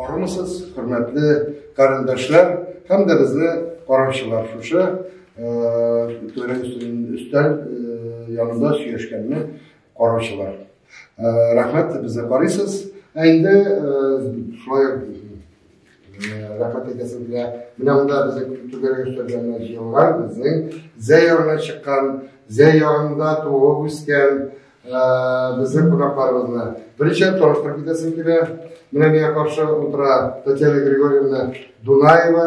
Арымысыз, хөрмәтле карендәшләр һәм дә безне караучылар шушы түрә өстәл янында сөйләшкәнне караучылар. Рәхмәт, безне карыйсыз. Ә инде шулай Рәхмәт әйтәсем килә. Менә монда безнең түгәрәк өстәлгәннәр җыелган, безнең зәй ягына чыккан, зәй ягында туып үскән безнең кунакларыбызны. Беренче таныштырып китәсем килә. Менә миңа каршы утыра Татьяна Григорьевна Дунаева.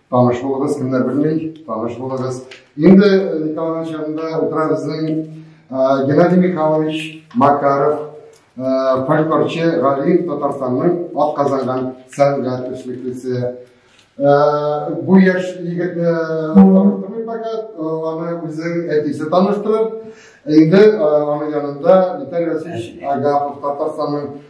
Таныш булыгыз, кемнәр белми, таныш булыгыз. Инде Николаевич янында утыра безнең Геннадий Михайлович Макаров, фольклорчы Галиев Татарстанның атказанган сәнгать эшлеклесе. Бу яшь егетне таныстырмыйм пока, аны үзең әтисе таныштырып, инде аның янында Виталий Васильевич Агапов Татарстанның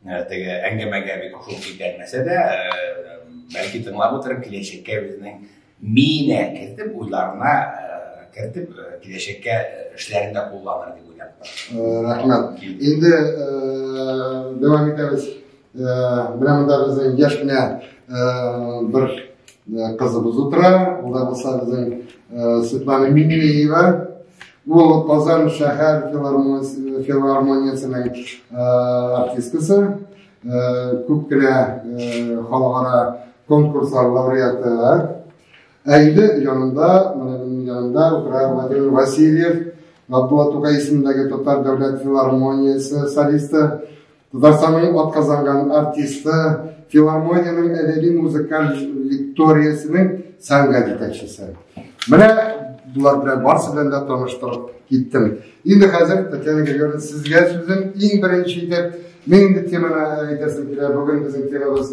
Ә, теге әңгәмәгә бик шул китәрмәсә дә, ә, бәлки тыңлап утырып киләчәккә үзенең миенә кертеп, уйларына ә, кертеп, киләчәккә эшләрендә кулланыр дип уйлап. Рәхмәт. Инде дәвам итәбез. Менә монда безнең яшь кенә бер кызыбыз утыра. Ул да булса безнең Светлана Минеева. Ул Казан шәһәр филармониясенең артисткасы, күп кенә халыкара конкурслар лауреаты. Ә инде янында, менә минем янында утыра Владимир Васильев, Габдулла Тукай исемендәге татар дәүләт филармониясе солисты. Татарстанның атказанган артисты, филармониянең әдәби музыкаль лекториясенең сәнгать җитәкчесе. Менә булар белән барсы белән дә таныштырып киттем. Инде хәзер Татьяна Григорьевна сезгә сүзем иң беренче итеп мин инде теманы әйтәсем килә. Бүген безнең темабыз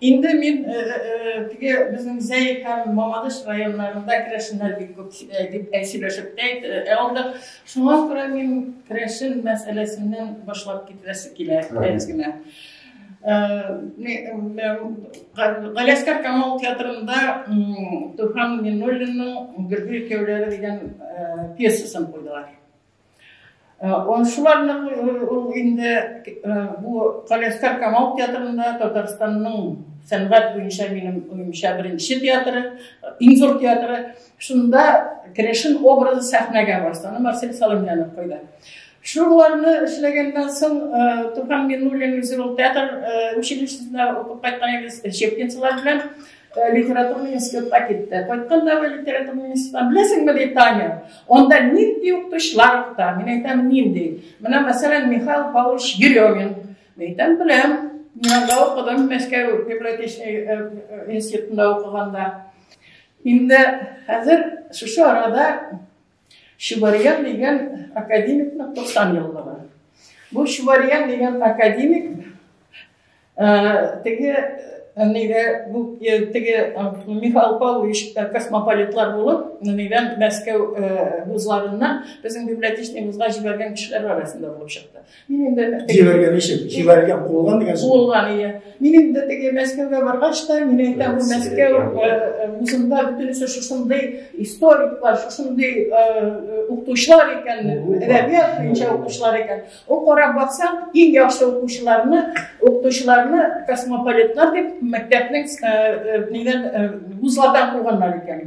Инде мин теге безнең Зәй һәм Мамадыш районнарында керәшеннәр бик күп дип сөйләшеп тә алдык. Шуңа күрә мин керәшен мәсьәләсеннән башлап китерәсе килә әз генә. Галәскәр Камал театрында Туфан Минуллинның Гөргә икәүләре дигән пьесасын куйдылар. Ансыларны ул инде бу Каләскар Камал театрында Татарстанның сәнгать буенча минем уемча беренче театры, иң зур театры. Шунда Керәшен образы сәхнәгә барса, аны Марсель Салымянов куйды. Шуларны эшләгәннән соң Туфан Миннуллин Зирул театр училищесында укып кайткан идем, Щепкинцылар белән. Э, литературный институтта китте кайтканда бер литературный институттан беләсеңме ди таня анда нинди укытучылар укыта мин әйтәм нинди менә мәсәлән михаил павлович еремин мин әйтәм беләм мин анда укыдым мәскәү библиотечный э, э, институтында укыганда инде хәзер шушы арада Чубарьян дигән академикның 90 еллыгы. Бу Чубарьян дигән академик э, теге э, нигә бу э, теге Михаил Павлович космополитлар булып, нигән Мәскәү вузларыннан безнең библиотечный вузга җибәргән кешеләр арасында булып чыкты. Мин инде җибәргән ишек, җибәргән кулган дигән сүз. Кулган ия. Мин инде теге Мәскәүгә баргач та, мин әйтәм, бу Мәскәү вузында бөтенесе шушындый историклар, шушындый укытучылар икән, әдәбият буенча укытучылар икән. Ул карап баксаң, иң яхшы укытучыларны, укытучыларны космополитлар дип мәктәпнең нидән вузлардан куганнар икән.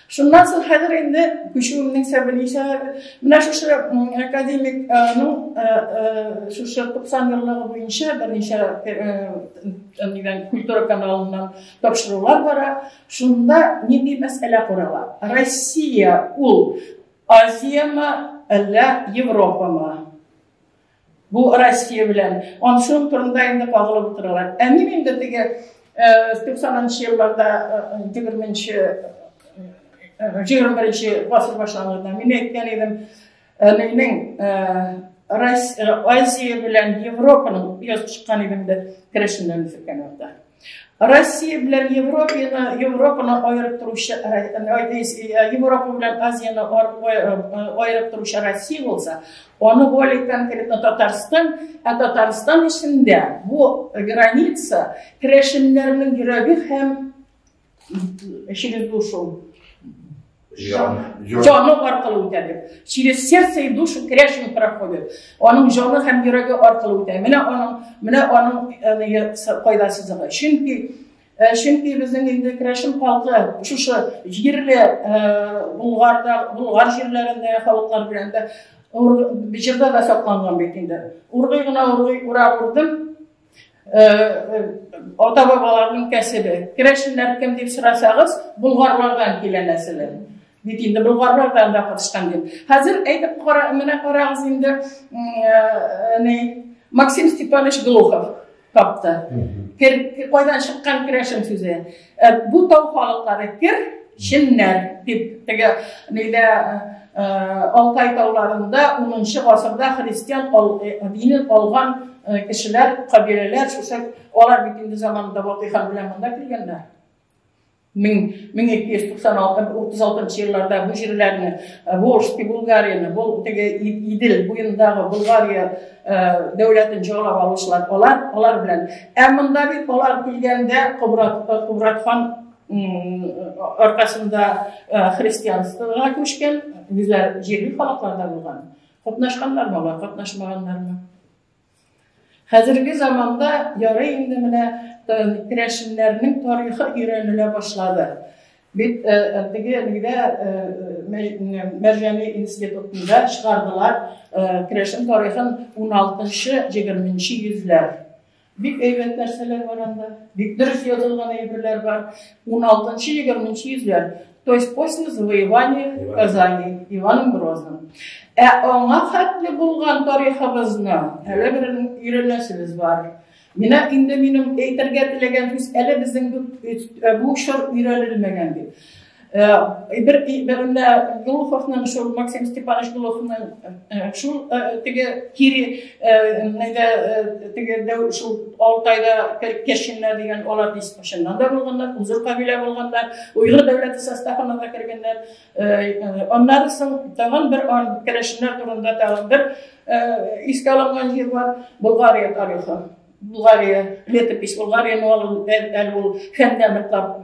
Шуннан соң хәзер инде күчүемнең сәбәбе ничә менә шушы академик ну шушы 90 еллыгы буенча берничә нидән культура каналыннан тапшырулар бара. Шунда нинди мәсьәлә карала? Россия ул Азиямы, әллә Европамы? Бу Россия белән аншуын турында инде кагылып утыралар. Ә мин инде теге 90-нчы елларда 20-нче 21-нче гасыр башланганда мин әйткән идем, әнинең Азия белән Европаның яз чыккан идем дә керәшеннәрне сөккән вакытта. Россия белән Европаны, Европаны аерып торучы, Европа белән Азияны аерып торучы Россия булса, аны более конкретно Татарстан, ә Татарстан эчендә бу граница керәшеннәрнең йөрәге һәм через душу. Җаны аркылы үтә дип. Через сердце и душу керәшен проходит. Аның җаны һәм йөрәге аркылы үтә. Менә аның, менә аның кайда сызыгы. Чөнки чөнки безнең инде керәшен халкы шушы җирле Булгарда, Булгар җирләрендә халыклар белән дә җирдә дә сакланган бит инде. Ургый гына ургый, ура урдым, ата бабаларның кәсебе. Керәшеннәр кем дип сорасагыз, булгарлардан килә нәселе. Бит инде булгарлардан да катышкан дип. Хәзер әйтеп кара, менә карагыз инде, ни, Максим Степанович Глухов тапты. Кайдан чыккан керәшен сүзе? Э, бу тау халыклары кер, чиннәр, дип, теге, нидә, э, э, Алтай тауларында 10-нчы гасырда христиан динен алган кешеләр, кабиләләр, шушы алар бит инде заманында Батый хан белән монда килгәннәр. 1296-36 елларда бу җирләрне Волжский Булгарияны, бу теге Идел буендагы Булгария дәүләтен җорлап алучылар алар, алар белән. Ә монда бит алар килгәндә Кубрат, Кубрат хан аркасында христианствога күчкән, үзләр җирле халыкларда булган. Катнашканнармы алар, катнашмаганнармы? Хәзерге заманда ярый инде менә керәшеннәрнең тарихы өйрәнелә башлады. Бит теге әлегә Мәрҗани институтында чыгардылар керәшен тарихын 16-20 йөзләр. Бик әйбәт нәрсәләр бар анда. Бик дөрес язылган әйберләр бар. 16-20 йөзләр. То есть после завоевания Казани Иваном Грозным. Ә аңа хәтле булган тарихыбызны әле бер өйрәнәсебез бар. Менә инде минем әйтергә теләгән сүз әле безнең бу чор өйрәнелмәгән дип. Бер бирендә Глуховның шул Максим Степанович Глуховның шул теге кире нәдә теге дә шул Алтайда кешеләр дигән алар дискушеннан да булганнар, үзәк кабилә булганнар, уйгыр дәүләте составына да кергәннәр. Аннары соң тагын бер керәшеннәр турында тагын бер искә алынган җир бар, Болгария тарихы. Болгария, летопись Болгария, но ул әле ул хәндә ныклап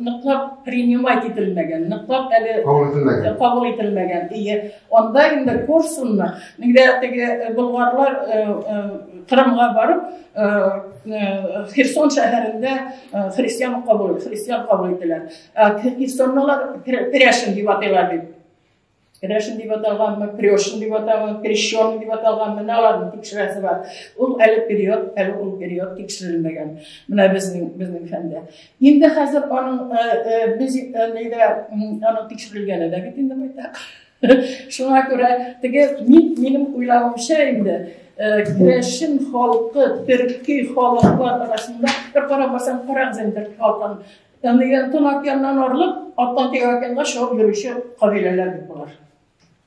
ныклап принимать ителмәгән, ныклап әле кабул ителмәгән. Кабул ителмәгән. Анда инде Корсунны, инде теге э, болгарлар э, э, Кырымга барып, Херсон шәһәрендә христиан кабул, христиан кабул ителәр. Херсоннылар Кряшин дип атыйлар бит. Кряшин дип аталганмы, Крёшин дип аталган, Крещон дип аталган, менә аларның тикшерәсе бар. Ул әле период, әле ул период тикшерелмәгән. Менә безнең безнең фәндә. Инде хәзер аның без нидә аның тикшерелгәне дә бит инде байтак. Шуңа күрә теге мин минем уйлавымча инде керәшен халкы, төрки халыклар арасында бер карап барсаң, карак зәндер халкын. Яннан яннан орлык, аттан тигән шуып йөрүче кабиләләр бит болар.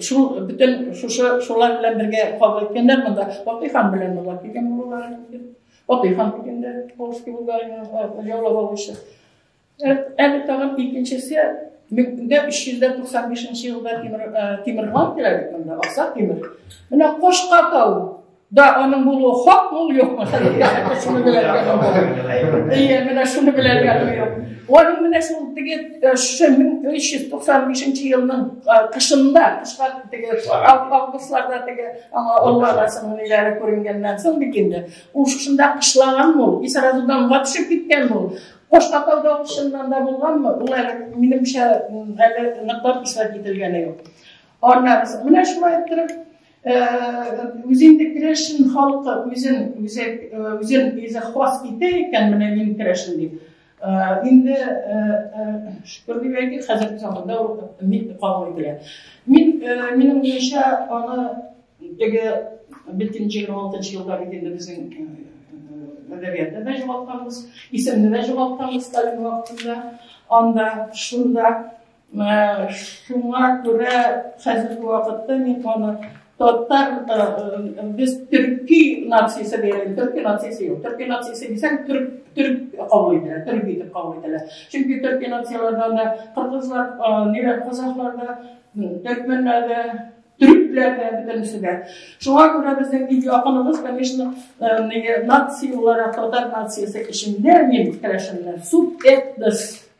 Шул бөтен шушы шулар белән бергә кабул иткәннәр монда. Батый хан белән монда килгән булалар инде. Батый хан килгәндә Полский Булгарияны яулап алучы. Әле тагын икенчесе меңдә өч йөз дә туксан бишенче елда Тимер Тимер хан килә бит монда, Аксак Тимер. Менә Кошка тау Да, аның булуы хак мул юкмы? Шуны белергә дә Ие, менә шуны белергә дә юк. Аның менә шул теге 1395 елның кышында, кышка теге августларда теге аңа Аллаһның ниләре күренгәннән соң бит инде. Ул шушында кышлаган ул, и сразу да ватышып киткән ул. Коштатауда шуннан да булганмы? Ул әле минемчә гаилә ныклап исәп ителгәне юк. Аннан менә шулай иттереп Үзен дә керәшен халкы үзен үзе үзен үзе хас итә икән, менә мин керәшен дип. Инде шөкер дип әйтик, хәзерге заманда ул мин кабул ителә. Мин минем буенча аны теге бөтен 26 елда бит инде безнең әдәбиятта да җавапланабыз, исемне дә җавапланабыз Сталин вакытында, анда, шунда Менә шуңа күрә хәзерге вакытта мин аны Тотар без төрки нациясе дигән төрки нациясе юк. Төрки нациясе дисәң төрк төрк кабул ителә, төрк итеп кабул ителә. Чөнки төрки нацияләрдә анда кыргызлар, ниләр казахларда, төркмәннәрдә, төрекләрдә бөтенесе дә. Шуңа күрә безнең бик якыныбыз, конечно, нация буларак татар нациясе эчендә мин керәшеннәр, субэтнос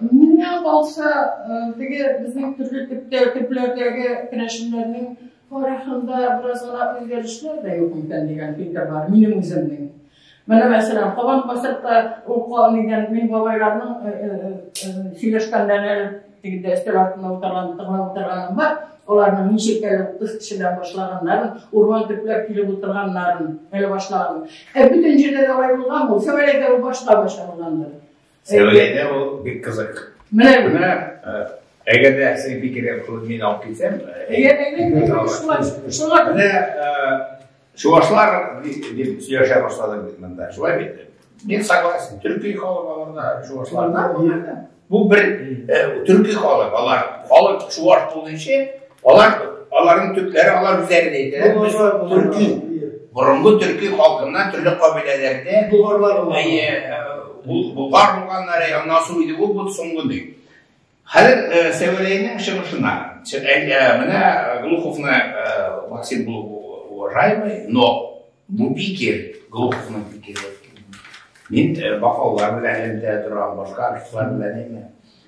Менә алса, теге безнең төрле төптә төпләрдәге керәшеннәрнең тарихында бераз гына үзгәрешләр дә юк икән дигән фикер бар, минем үземнең. Менә мәсәлән, кабан касатта ул калмыйдан мин бабайларның э, э, э, сөйләшкәннәре тегендә өстәл артында утырган, тыңлап утырганым бар. Аларның ничек әле утыз кешедән башлаганнарын, урман төпләп килеп утырганнарын әле башлаганым. Ә бөтен җирдә дә алай булган булса, әлегә ул башта башлангандыр. Сәүләдә ул бик кызык. Менә менә әгәр дә син бик кирәк булып мин алып китсәм, әгәр әгәр шуңа менә чувашлар дип сөйләшә башладым бит монда. Шулай бит. Мин согласен. Төрки халык аларда чувашларда. Бу бер төрки халык, алар халык чуваш булганчы Алар, аларның төпләре алар үзләре дә әйтәләр, без төрки, борынгы төрки халкыннан төрле кабиләләрдә булгарлар булганнары, аннан соң иде бу бу соңгы ди. Хәзер э, Сәвәләйнең чыгышына, э, э, менә Глуховны Максим был уважаемый, но бу пикер, Глуховның пикере. Мин бакаллар белән элемтә торам, башка артистлар белән әйме.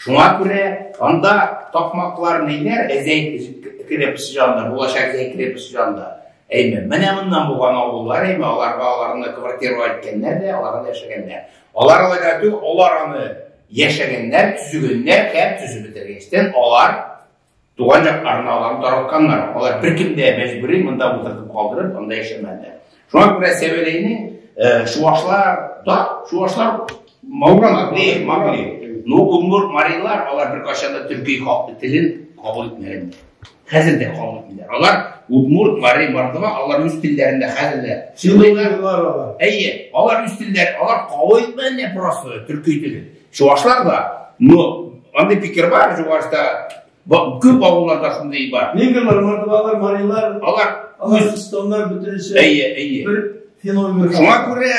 Шуңа күрә анда такмаклар ниләр, әзәйт кереп сыжанда, булачак әзәйт кереп сыжанда. Әйме, менә моннан булган авыллар, әйме, аларга аларны квартиру әйткәннәр дә, аларга да яшәгәннәр. Алар алар аны яшәгәннәр, түзгәннәр, һәм түзеп бетергәннәр. Алар Туган як арналарын таратканнар. Алар бер кемдә мәҗбүри монда утыртып калдырып, анда яшәмәде. Шуңа күрә Сәвеләйне э, шуашлар, да, шуашлар Мауган Глеев, Маугли. Ну, Умгур Марилар, алар бер качан да төрки халкы телен кабул итмәгән. Хәзер дә кабул итмиләр. Алар Умгур Мари Мардова, алар үз телләрендә хәзер дә сөйлиләр. Әйе, алар үз телләр, алар кабул итмәгән просто төрки телен. Чувашлар да, но андый пикер бар, чувашта күп авылларда шундый бар. Венгрлар, мордвалар, марилар, алар Аларстоннар бөтенесе. Әйе, әйе. Бер феномен. Шуңа күрә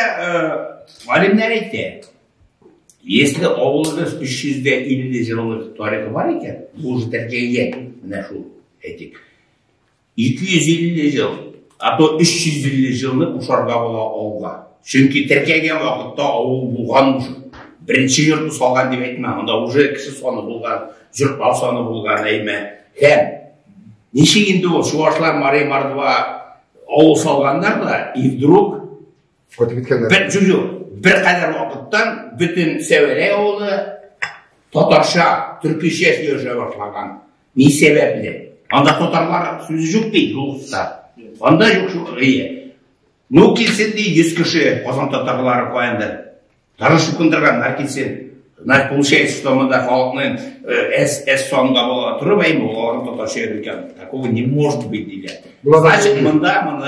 галимнәр әйтә. Если авылыбыз 350 еллык тарихы бар икән, бу уже тәрҗегә менә шул әйтик. 250 ел, а то 350 елны кушарга була авылга. Чөнки теркәгән вакытта авыл булган уже. Беренче йортны салган дип әйтмә, анда уже кеше саны булган, йортлар саны булган әйме. Һәм ничек инде ул чувашлар Мария Мордва авыл салганнар да, и вдруг Котып киткәннәр. Бер җүзү, бер кадәр вакыттан бөтен Сәвәрә авылы татарча, төркичә сөйләшә башлаган. Ни сәбәпле? Анда татарлар сүзе юк бит, юкса. Анда юк шул гыя. Ну килсен ди 100 кеше Казан татарлары каенда. Тары шукындырган нар килсен. Значит, получается, что мы да халыкны э, с, с сонга была отрыва, и мы лором татарча языком. Такого не может быть, дилер. Значит, мы да, мы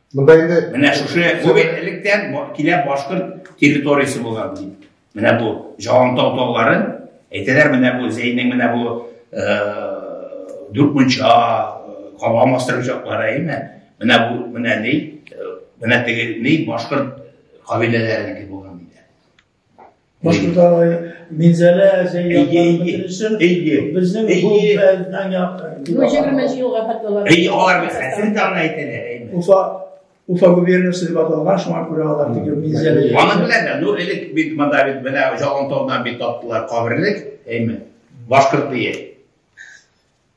Монда инде менә шушы бу бит электән килә башкорт территориясе булган дип. Менә бу Җавантау таулары, әйтәләр менә бу Зәйнең менә бу э, дүрт мунча, э, калган мастер учаклары әйме? Менә бу менә ни? Э, менә теге ни башкорт кабиләләренеке булган диде. Башкортта Минзәлә, Зәйгә, Бөтенесе, безнең бу бәлдән якын. Бу 20 елга хәтләр. Әй, алар бит хәсен таңны әйтәләр, әйме. Уфа, Уфа губернасы дип аталган, шуңа күрә алар диге Минзәлә. Аны беләләр, ну, элек бит монда бит менә Җалантаудан бит таптылар каберлек, әйме. Башкорт бие.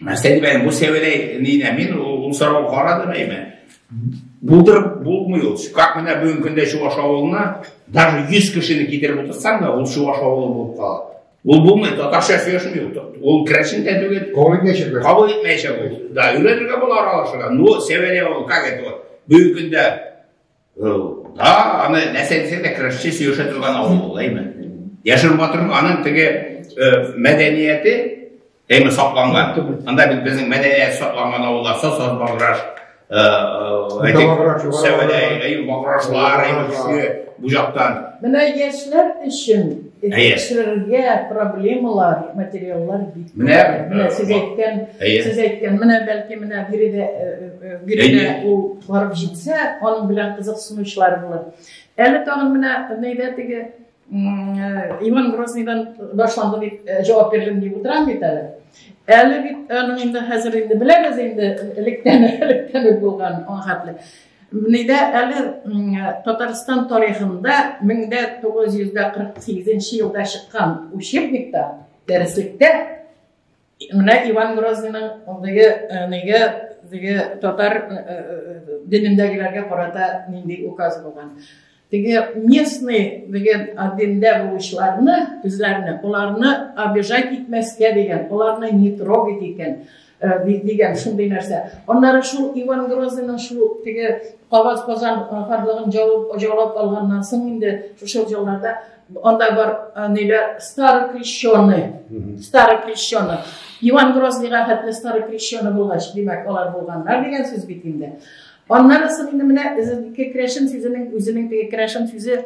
Менә Сәлимәнең бу сәвеләй нидә мин ул сорауга карадым әйме. Булдырып булмый ул. Как менә бүгенге көндә Чуваш авылына даже 100 кешене китереп утырсаң да, ул Чуваш авылы булып кала. Ул булмый, татарча сөйләшми ул. Ул крәшен дә түгел. Кабул итмәячәк. Кабул итмәячәк ул. Да, өйрәнергә була аралашырга. Ну, сәвеләй ул, как это вот. Бүгенге көндә Да, аны нәрсә дисәң дә көрәшче сөйләшә торган авыл ул, әйме? Яшер батыр аның теге мәдәнияте әйме сакланган. Анда бит безнең мәдәният сакланган авыллар, сосор баграш, әйтик, сәвәләй, әйме баграшлар, әйме көче бу яктан. Менә яшьләр өчен Әйе. Кешеләргә проблемалар, материаллар бик. Менә менә сез әйткән, сез әйткән, менә бәлки менә биредә биредә ул барып җитсә, аның белән кызыксынучылар булыр. Әле тагын менә нәйдә теге Иван Грозныйдан башланды дип җавап бирдем дип утырам бит әле. Әле бит аның инде хәзер инде беләбез инде электән электән булган аңгатлы. Нидә әле Татарстан тарихында 1948 елда чыккан учебникта, дәреслектә менә Иван Грозныйның андыйы э, нигә диге татар э, э, динендәгеләргә карата нинди указ булган. Теге местный дигән адимдә булучыларны, үзләрне, аларны обижать итмәскә дигән, аларны не трогать икән дигән шундый нәрсә. Аннары шул Иван Грозныйның шул теге кабат Казан ханлыгын җавап җаулап алганнан соң инде шушы елларда анда бар ниләр старый крещеный, старый крещеный. Иван Грозныйга хәтле старый крещеный булгач, димәк, алар булганнар дигән сүз бит инде. Аннары соң инде менә ике керәшен сүзенең үзенең теге керәшен сүзе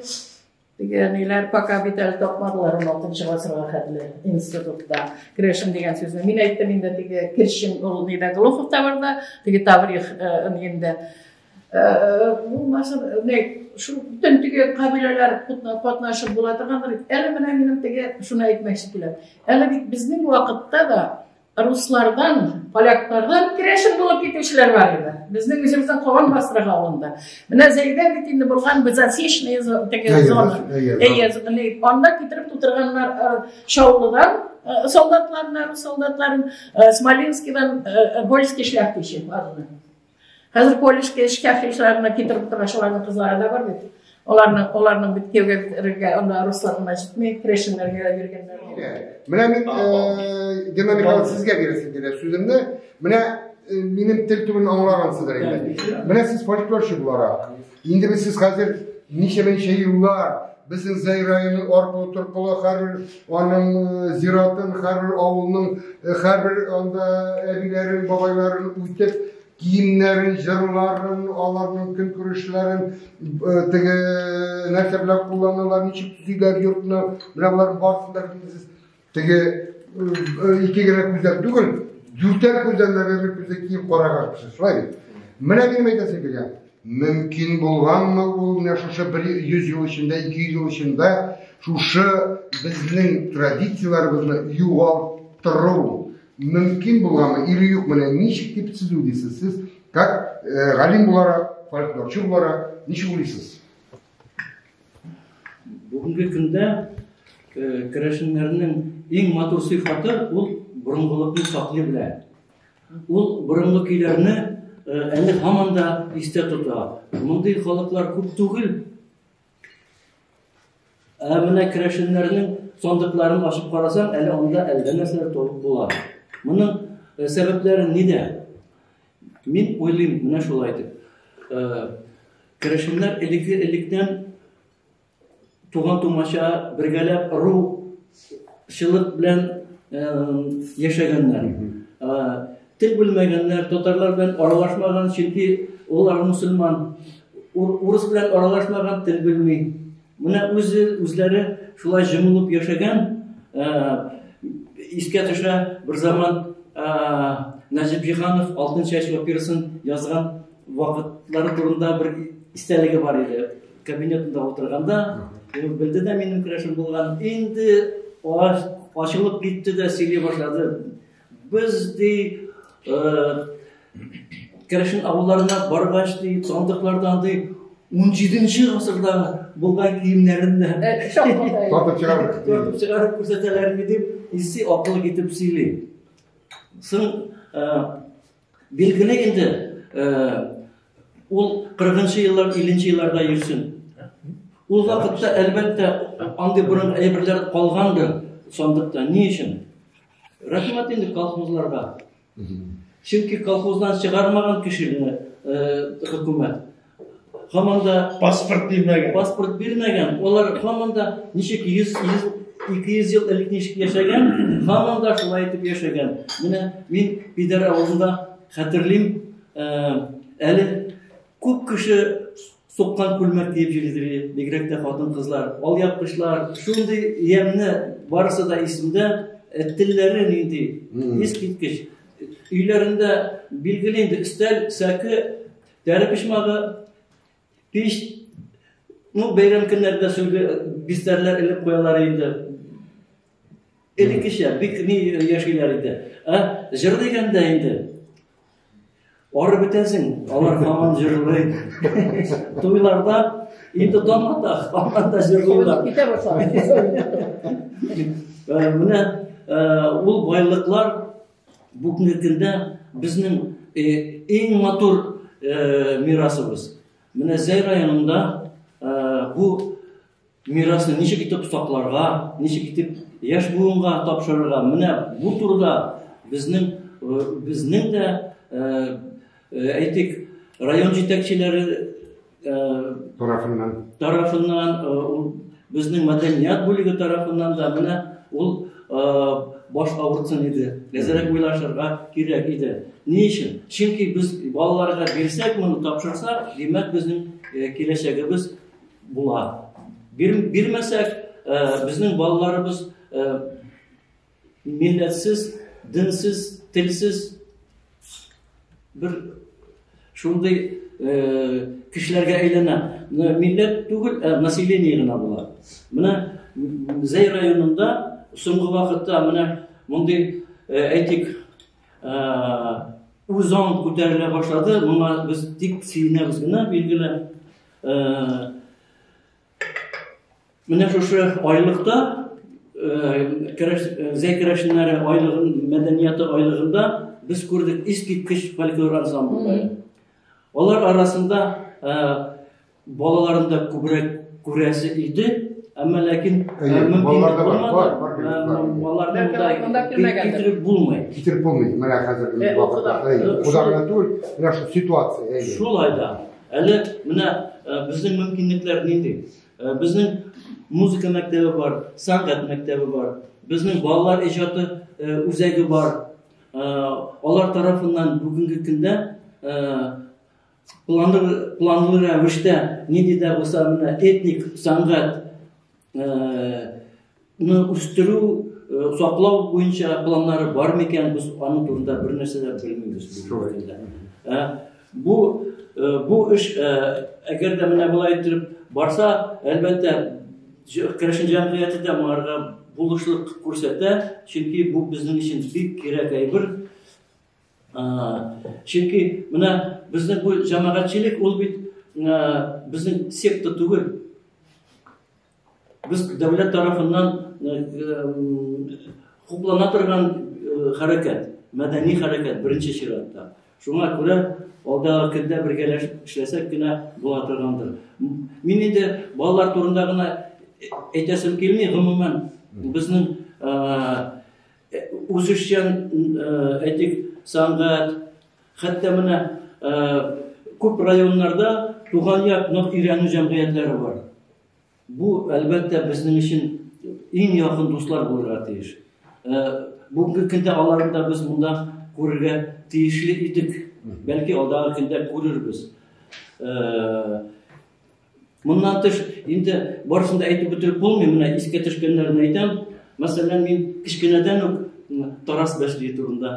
теге ниләр пока бит әле тапмадылар 16 гасырга хәтле институтта керәшен дигән сүзне мин әйттем инде теге кершин ул нидә глуховта бар да теге таврих инде булмасын не шул бүтән теге кабиләләр катнашып була торгандыр әле менә минем теге шуны әйтмәкче киләм әле бит безнең вакытта да руслардан, поляклардан керәшен булып китүчеләр бар иде. Безнең үзебездән калган Басрага алында. Менә Зәйдә бит инде булган без Асечная теге зона. Әйе, зона. Анда китереп тутырганнар Шаулыдан солдатларны, солдатларын Смоленскидан Больский шляхтичи барды. Хәзер колледжке эшкә хишларына китереп тора шуларның кызлары да бар бит. Аларны аларның бит кевгә анда руслар гына җитми, крешеннәргә дә биргәннәр. Менә мин э, Гена Михайлович сезгә бирәсем килә сүземне. Менә э, минем тел түгелен аңлагансыздыр инде. Менә сез фольклорчы буларак, Инде без сез хәзер ничәмәнчә еллар безнең Зәй районы аркылы торкылы һәрбер аның э, зиратын, һәрбер авылның, э, һәрбер анда әбиләрен, бабайларын үтеп, киемнәрен, җырларын, аларның көн күрешләрен, э, теге нәрсә белән кулланалар, ничек төзиләр йортны, менә болар барсын да Теге ике генә күздән түгел, дүртәр күздән дә берлек күздә киеп караган кеше. Шулай бит. Менә минем әйтәсе килгән. Мөмкин булганмы ул менә шушы 100 ел эчендә, 200 ел эчендә шушы безнең традицияләребезне югалтыру мөмкин булганмы или юк менә ничек дип сез уйлыйсыз? Сез как э, галим буларак, фольклорчы буларак ничек уйлыйсыз? Бүгенге көндә э, керәшеннәрнең иң матур сыйфаты ул борынгылыкны саклый белә. Ул борынгы көйләрне э, әле һаман да истә тота. Мондый халыклар күп түгел. Ә менә керәшеннәрнең сондыкларын ачып карасаң, әле анда әллә нәрсәләр табып була. Моның э, сәбәпләре нидә? Мин уйлыйм, менә шулай дип. Э, Керәшеннәр элекке электән туган тумача бергәләп ру шылык белән э, яшәгәннәр. Э, тел белмәгәннәр, татарлар белән аралашмаган, чөнки улар мусульман. Урыс белән аралашмаган тел белми. Менә үзе үзләре шулай җомылып яшәгән, искә төшә бер заман Нәҗип Җиһанов Алтын чәч операсын язган вакытлары турында бер истәлеге бар иде. Кабинетында утырганда, ул белде дә минем керәшем булган. Инде ачылып китте дә сөйли башлады. Без ди Керәшен авылларына баргач ди, сандыклардан ди 17-нче гасырда булган киемнәрен дә тартып чыгарып тартып чыгарып күрсәтәләрме дип, исе акыл китеп сөйли. Соң билгеле инде ул 40-нчы еллар, 50-нче елларда йөрсен. Ул вакытта әлбәттә андый борын әйберләр калгандыр сандыкта. Ни өчен? Рәхмәт инде колхозларга. Чөнки колхоздан чыгармаган кешене хөкүмәт һаман да паспорт бирмәгән. Паспорт бирмәгән. Олар һаман да ничек 100 200 ел элек ничек яшәгән, һаман да шулай итеп яшәгән. Менә мин Пидәр авылында хәтерлим, әле күп кеше суккан күлмәк киеп йөридер бигрәк тә хатын-кызлар. Алъяпкычлар, шундый ямьне барысы да исемдә, э, телләре нинди, ис киткеч. Өйләрендә билгеле инде өстәл, сәке, тәре пешмагы, пич, ну, бәйрәм көннәрдә сүлге э, бистәрләр элеп куялар инде. Элеккечә бик ни яшиләр иде. Ә җыр дигәндә инде Арып бетәсең, алар һаман җырлый. Туйларда инде таңата, һаман да җырлыйлар. Китә башлады. Менә ул байлыклар бүгенге көндә безнең иң матур мирасыбыз. Менә Зәй районында бу Мирасны ничек итеп сакларга, ничек итеп яшь буынга тапшырырга, менә бу турыда безнең безнең дә әйтик, район җитәкчеләре тарафыннан тарафыннан ул безнең мәдәният бүлеге тарафыннан да менә ул баш авыртсын иде. Әзерәк уйлашырга кирәк иде. Ни өчен? Чөнки без балаларга бирсәк, моны тапшырсак, димәк, безнең киләчәгебез Була. Бир, бирмәсәк, ә, э, безнең балаларыбыз ә, э, милләтсез, динсез, телсез бер шундый э, кешеләргә әйләнә. Милләт түгел, ә население гына була. Менә Зәй районында соңгы вакытта менә мондый әйтик үзаң күтәрелә башлады. Моңа без тик сөенәбез генә, билгеле. Менә шушы айлыкта Зәй керәшеннәре айлыгын, мәдәнияты айлыгында без күрдек искиткеч фольклор ансамбльләре. Алар арасында балаларында күбрәк күрәсе иде, әмма ләкин мөмкинлек булмады. Китереп булмый. Китереп булмый. Менә хәзер вакытта. Кудагына түгел, менә шул ситуация. Шулай да. Әле менә безнең мөмкинлекләр нинди? Безнең музыка мәктәбе бар, сәнгать мәктәбе бар, безнең балалар иҗаты үзәге бар. Алар тарафыннан бүгенге көндә планлы планлы рәвештә нинди дә булса менә этник сәнгать Ны үстерү, э, саклау буенча планнары бар микән? Без аның турында бер нәрсә дә белмибез. Э, бу э, бу эш әгәр дә менә болай итеп барса, әлбәттә, керәшен җәмгыяте дә моңарга булышлык күрсәтә, чөнки бу безнең өчен бик кирәк әйбер. Чөнки менә безнең бу җәмәгатьчелек ул бит безнең секта түгел, Без дәүләт тарафыннан хуплана торган хәрәкәт, мәдәни хәрәкәт беренче чиратта. Шуңа күрә алдағы көндә бергәләшеп эшләсәк кенә була торгандыр. Мин инде балалар турында гына әйтәсем килми, гомумән безнең үзешчән әйтик сәнгать, Хәтта менә күп районнарда туган як нык өйрәнү җәмгыятьләре бар. Бу, әлбәттә, безнең өчен иң якын дуслар булырга тиеш. Бүгенге көндә аларны да без монда күрергә тиешле идек. Бәлки алдагы көндә күрербез. Моннан тыш, инде барысын да әйтеп бетереп булмый, менә искә төшкәннәрне әйтәм. Мәсәлән, мин кечкенәдән үк Тарас Бәшли турында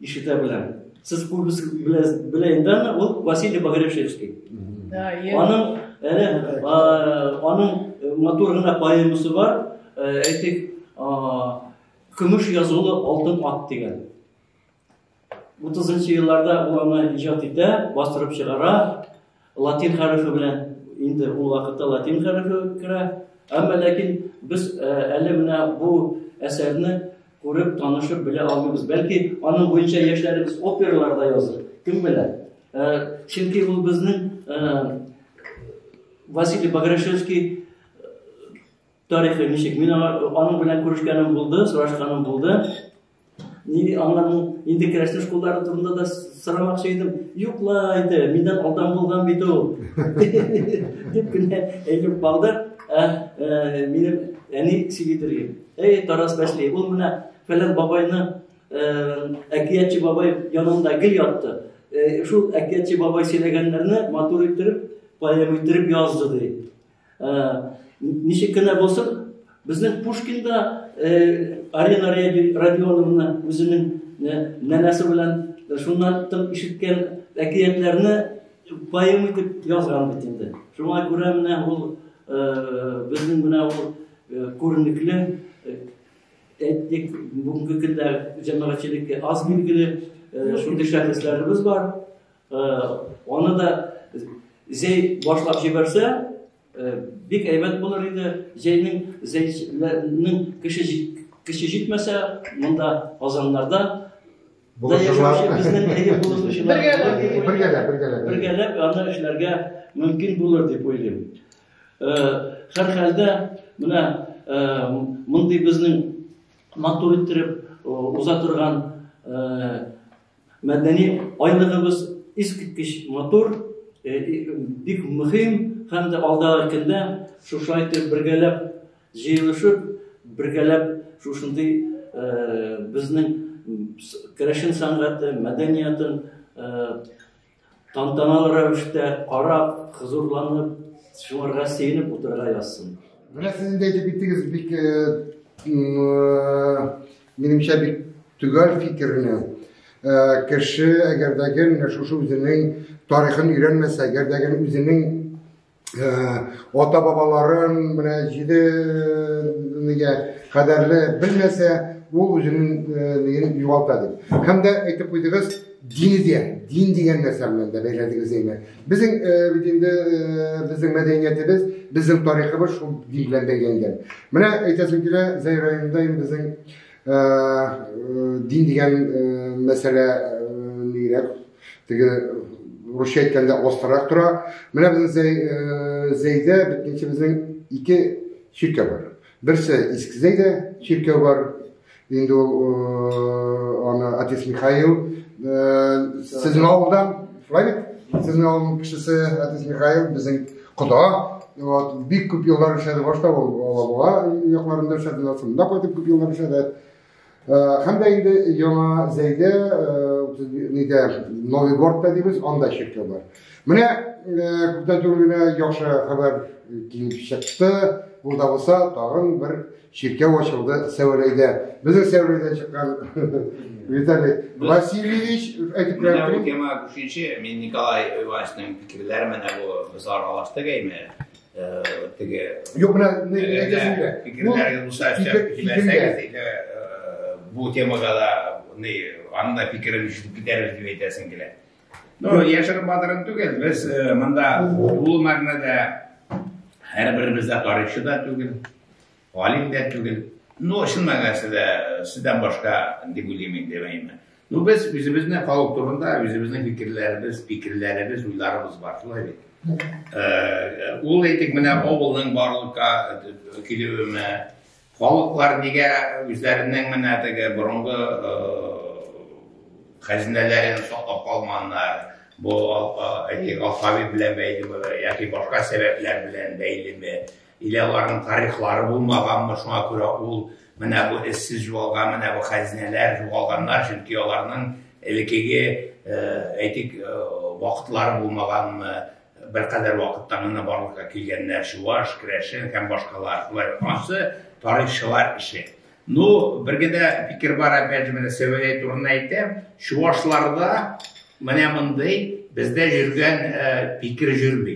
Ишетә беләм. Сез күбесе белә инде аны, ул Василий Багревшевский. Да, Аның әле аның э, матур гына поэмасы бар, э, әйтик, көмеш язулы алтын ат дигән. 30 елларда ул аны иҗат итә, бастырып чыгара, Латин хәрефе белән инде ул вакытта латин хәрефе керә. Әмма ләкин без э, әле менә бу әсәрне күреп, танышып белә алмыйбыз. Бәлки аның буенча яшьләребез операларда языр. Кем белә? Э, чөнки ул безнең э, Василий Баграшевский тарихы ничек? Мин аның белән күрешкәнем булды, сорашканым булды. Нини аңларның инде керәшен школлары турында да сорамакчы идем. Юк ла инде, миннән алдан булган бит ул. Дип кенә әйтеп калды. Ә, ә, минем әни Сибидергем. Әй, Тарас Бәшли, ул менә фәлән бабайны ә, әкиятчы бабай янында гел ятты. Ә, шул әкиятчы бабай сөйләгәннәрне матур иттереп, поэма иттереп язды ди. Ә, ничек кенә булсын, безнең Пушкинда ә, Арина Родионовна үзенең ә, нәнәсе белән шуннан тып ишеткән әкиятләрне поэм итеп язган бит инде. Шуңа күрә менә ул ә, безнең менә ул ә, күренекле әйтик, бүгенге көндә җәмәгатьчелеккә аз билгеле шундый шәхесләребез бар. Аны да зәй башлап җибәрсә, бик әйбәт булыр иде. Зәйнең зәйләрнең кеше кеше җитмәсә, монда Казаннарда бергәләп аны эшләргә мөмкин булыр дип уйлыйм. Һәрхәлдә менә мондый безнең матур иттереп уза торган Мәдәни айлыгыбыз искиткеч матур, бик мөһим һәм дә алдагы көндә шушай итеп бергәләп җыелышып, бергәләп шушындый безнең керәшен сәнгате, мәдәниятын Тантаналы рәвештә карап, хозурланып, шуңарга сөенеп утырырга язсын. Менә сез инде әйтеп киттегез бик э, э, минемчә бик төгәл фикерне. Э, кеше әгәр дә гел шушы үзенең тарихын өйрәнмәсә, әгәр дә гел үзенең ата бабаларын менә җиде нигә кадәрле белмәсә ул үзенең югалта дип һәм дә әйтеп куйдыгыз дин дә дин дигән нәрсә белән дә бәйләдегез әйме безнең бит инде безнең мәдәниятебез безнең тарихыбыз шул дин белән бәйләнгән менә әйтәсем килә зәй районында инде безнең дин дигән мәсьәлә нигрәк Теге русча әйткәндә остарак тора. Менә безнең зәй, э, зәйдә битничебезнең ике чиркәү бар. Берсе Иске зәйдә чиркәү бар. Инде ул э, аны отец Михаил э, сезнең авылдан, шулай бит? Сезнең авылның кешесе отец Михаил безнең кода. Вот, бик күп еллар эшләде башта ул Алабуга якларында эшләде, шунда кайтып күп еллар эшләде. Һәм дә инде яңа зәйдә, нидә, Новый Гордта дибез, анда чиркәү бар. Менә күптән түгел генә яхшы хәбәр килеп чыкты. Булда булса, тагын бер чиркәү ачылды Сәүрәйдә. Безнең Сәүрәйдә чыккан Виталий Васильевич әйтеп Менә бу тема күченче, мин Николай Ивановичның фикерләре менә бу без аралаштык әйме. теге юк менә бу темага да аның да фикерен ишетеп китәрбез дип әйтәсең килә ну яшерен батырын түгел без монда тулы мәгънәдә һәрберебез дә тарихчы да түгел галим дә түгел. Ну, чын мәгънәсендә, сездән башка, дип уйлыйм инде, әмма. Ну, без үзебезне халык турында, үзебезнең фикерләребез, фикерләребез, уйларыбыз бар, шулай бит. Э, ул әйтик, менә авылның барлыкка килүеме, халыклар нигә үзләренең менә теге борынгы э, хәзинәләрен саклап калганнар, бу әйтик, алфавит белән бәйлеме, яки башка сәбәпләр белән бәйлеме? Или аларның тарихлары булмаганмы, шуңа күрә ул менә бу эзсез югалган менә бу хәзинәләр югалганнар, чөнки аларның элекеге әйтик вакытлары булмаганмы, беркадәр вакыттан гына барлыкка килгәннәр, чуваш, керәшен һәм башкалар. Шулай ансы тарихчылар эше. Ну, бер генә фикер бар, опять же, менә Сәвәләй турында әйтәм, чувашларда менә мондый бездә йөргән фикер йөрми.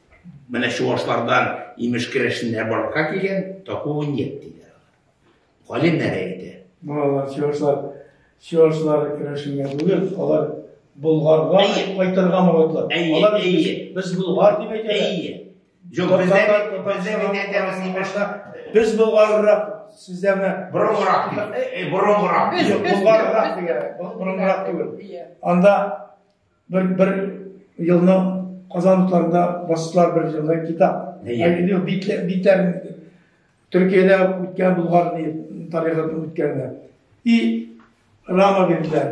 Менә чувашлардан имеш керәшеннәр барлыкка килгән, такого нет диләр. Галимнәр әйтә. Малайлар чувашлар, чувашлар керәшенгә түгел, алар Болгарга кайтырга моратлар. Алар без Болгар дип әйтәләр. Юк, бездә бездә генә әйтәбез имешта. Без Болгаррак сездә менә борынгырак ди. Борынгырак. Юк, Болгаррак дигән. Борынгырак түгел. Анда Бер, бер елны Казан утларында бастылар бер жылда китап. Әйе. Битләр, битләр Төркиядә үткән булган тарихын үткәнне. И рама бирделәр.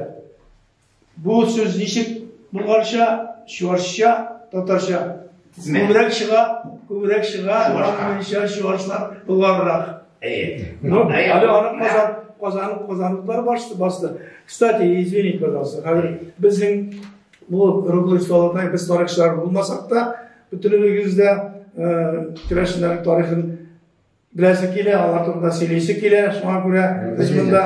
Бу сүз ничек булганча, чуашча, татарча Күбрәк чыга, күбрәк чыга, аннанча чуашлар булганрак. Әйе. Ну, әле аны казан, казан, казанлыклар басты, басты. Кстати, извините, пожалуйста, хәзер безнең бу рубль салатны без тарихчылар булмасак та, бөтенебез дә э, керәшеннәр тарихын Беләсе килә, алар турында сөйлисе килә, шуңа күрә без монда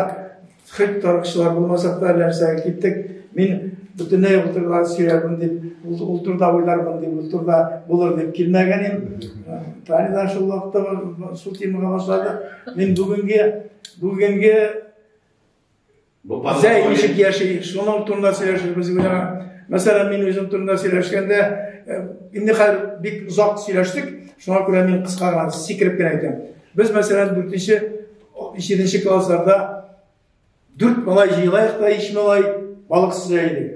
хит тарыкчылар булмасак та нәрсә киттек. Мин бөтенләй ул турыда сөйләрмен дип, ул турыда уйлармын дип, ул турыда булыр дип килмәгән идем. Таня да шул вакытта шул темага башлады. Мин бүгенге бүгенге Зәй ничек яши, шуның турында сөйләшербез генә. Мәсәлән, мин үзем турында сөйләшкәндә, э, инде хәзер бик озак сөйләштек, шуңа күрә мин кыска гына сикереп кенә әйтәм. Без, мәсәлән, 4-нче, 7-нче классларда дүрт малай җыелайык та, ич малай балык сөзә идек.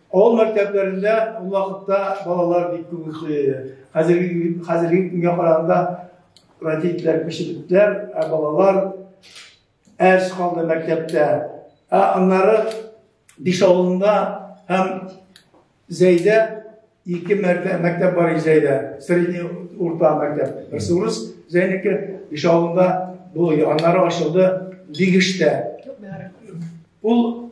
Авыл мәктәпләрендә ул вакытта балалар бик күп йоклый иде. Хәзерге хәзерге көнгә караганда родительләр пешерекләр, ә балалар әз калды мәктәптә. Ә аннары биш авылында һәм Зәйдә ике мәртә мәктәп бар Зәйдә. Средний урта мәктәп. Берсе урыс, Зәйнеке биш авылында бу аннары ачылды Бигештә. Ул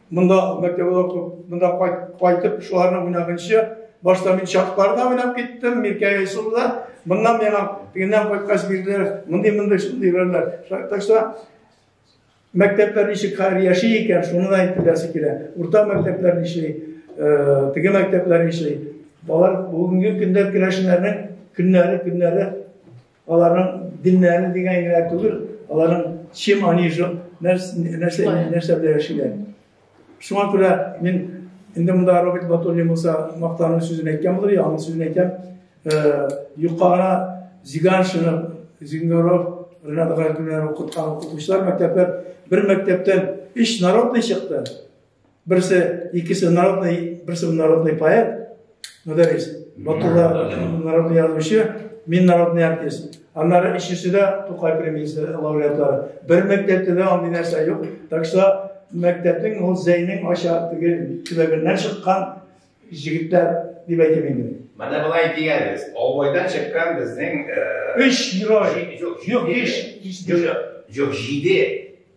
Монда мәктәбе дә күп. Монда кайтып, шуларның уйнагынчы, башта мин чакларда уйнап киттем, Миркәй Айсулда. Моннан миңа тегеннән кайткач бирделәр, мондый мондый шундый берләр. Так что мәктәпләр ничек хәзер яши икән, шуны да әйтеп беләсе килә. Урта мәктәпләр ничли, э, теге мәктәпләр ничли. Балалар бүгенге көндә керәшеннәрнең көннәре, көннәре Аларның диннәрен дигән генә түгел, аларның чем они же, нәрсә нәрсә белән яшиләр. Шуңа күрә мин инде монда Роберт Батуллин булса мактану сүзен әйткән булыр, яңа сүзен әйтәм. Э, юкка гына Зиганшинов, Зингоров, Ренат Гайкүннәр укыткан укытучылар мәктәпләр бер мәктәптән өч народный чыкты. Берсе, икесе народный, берсе народный поэт, мөдәррис. Батулла народный язучы, мин народный артист. Аннары ишесе дә Тукай премиясе лауреатлары. Бер мәктәптә дә андый нәрсә юк. Так что мәктәпнең ул зәйнең аша теге төбәгеннән чыккан җегетләр дип әйтәм инде. Менә болай дигәнбез. Албайдан чыккан безнең 3 герой. Юк, 5. Юк, 7.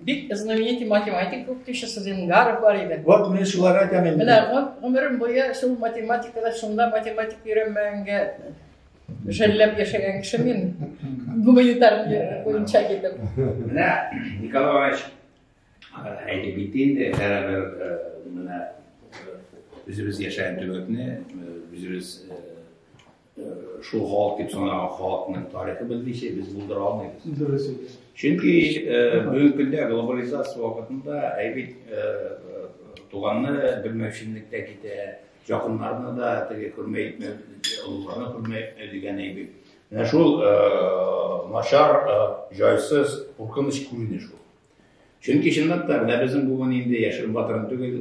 Бик знаменитый математик укытучы Сузен Гаров бар иде. Вот мин шулар айтам инде. Менә гомерем буе шул математикада шунда математик өйрәнмәгәнгә жәлләп яшәгән кеше мин. Гуманитар буенча китеп. Менә Николай Иванович әйтеп китте инде, бәрабәр э, менә э, үзебез яшәгән төбәкне, э, үзебез Шул халык дип санаган халыкның тарихы без ничә без булдыра алмыйбыз. Дөрес икән. Чөнки бүгенге көндә глобализация вакытында әйбит туганны белмәүченлектә китә, якыннарны да теге күрмәй итмәү, олыларны күрмәй итмәү дигән әйбит. Менә шул начар, җайсыз, куркыныч күренеш ул. Чөнки чынлап та менә безнең бүген инде яшерен батырын түгел,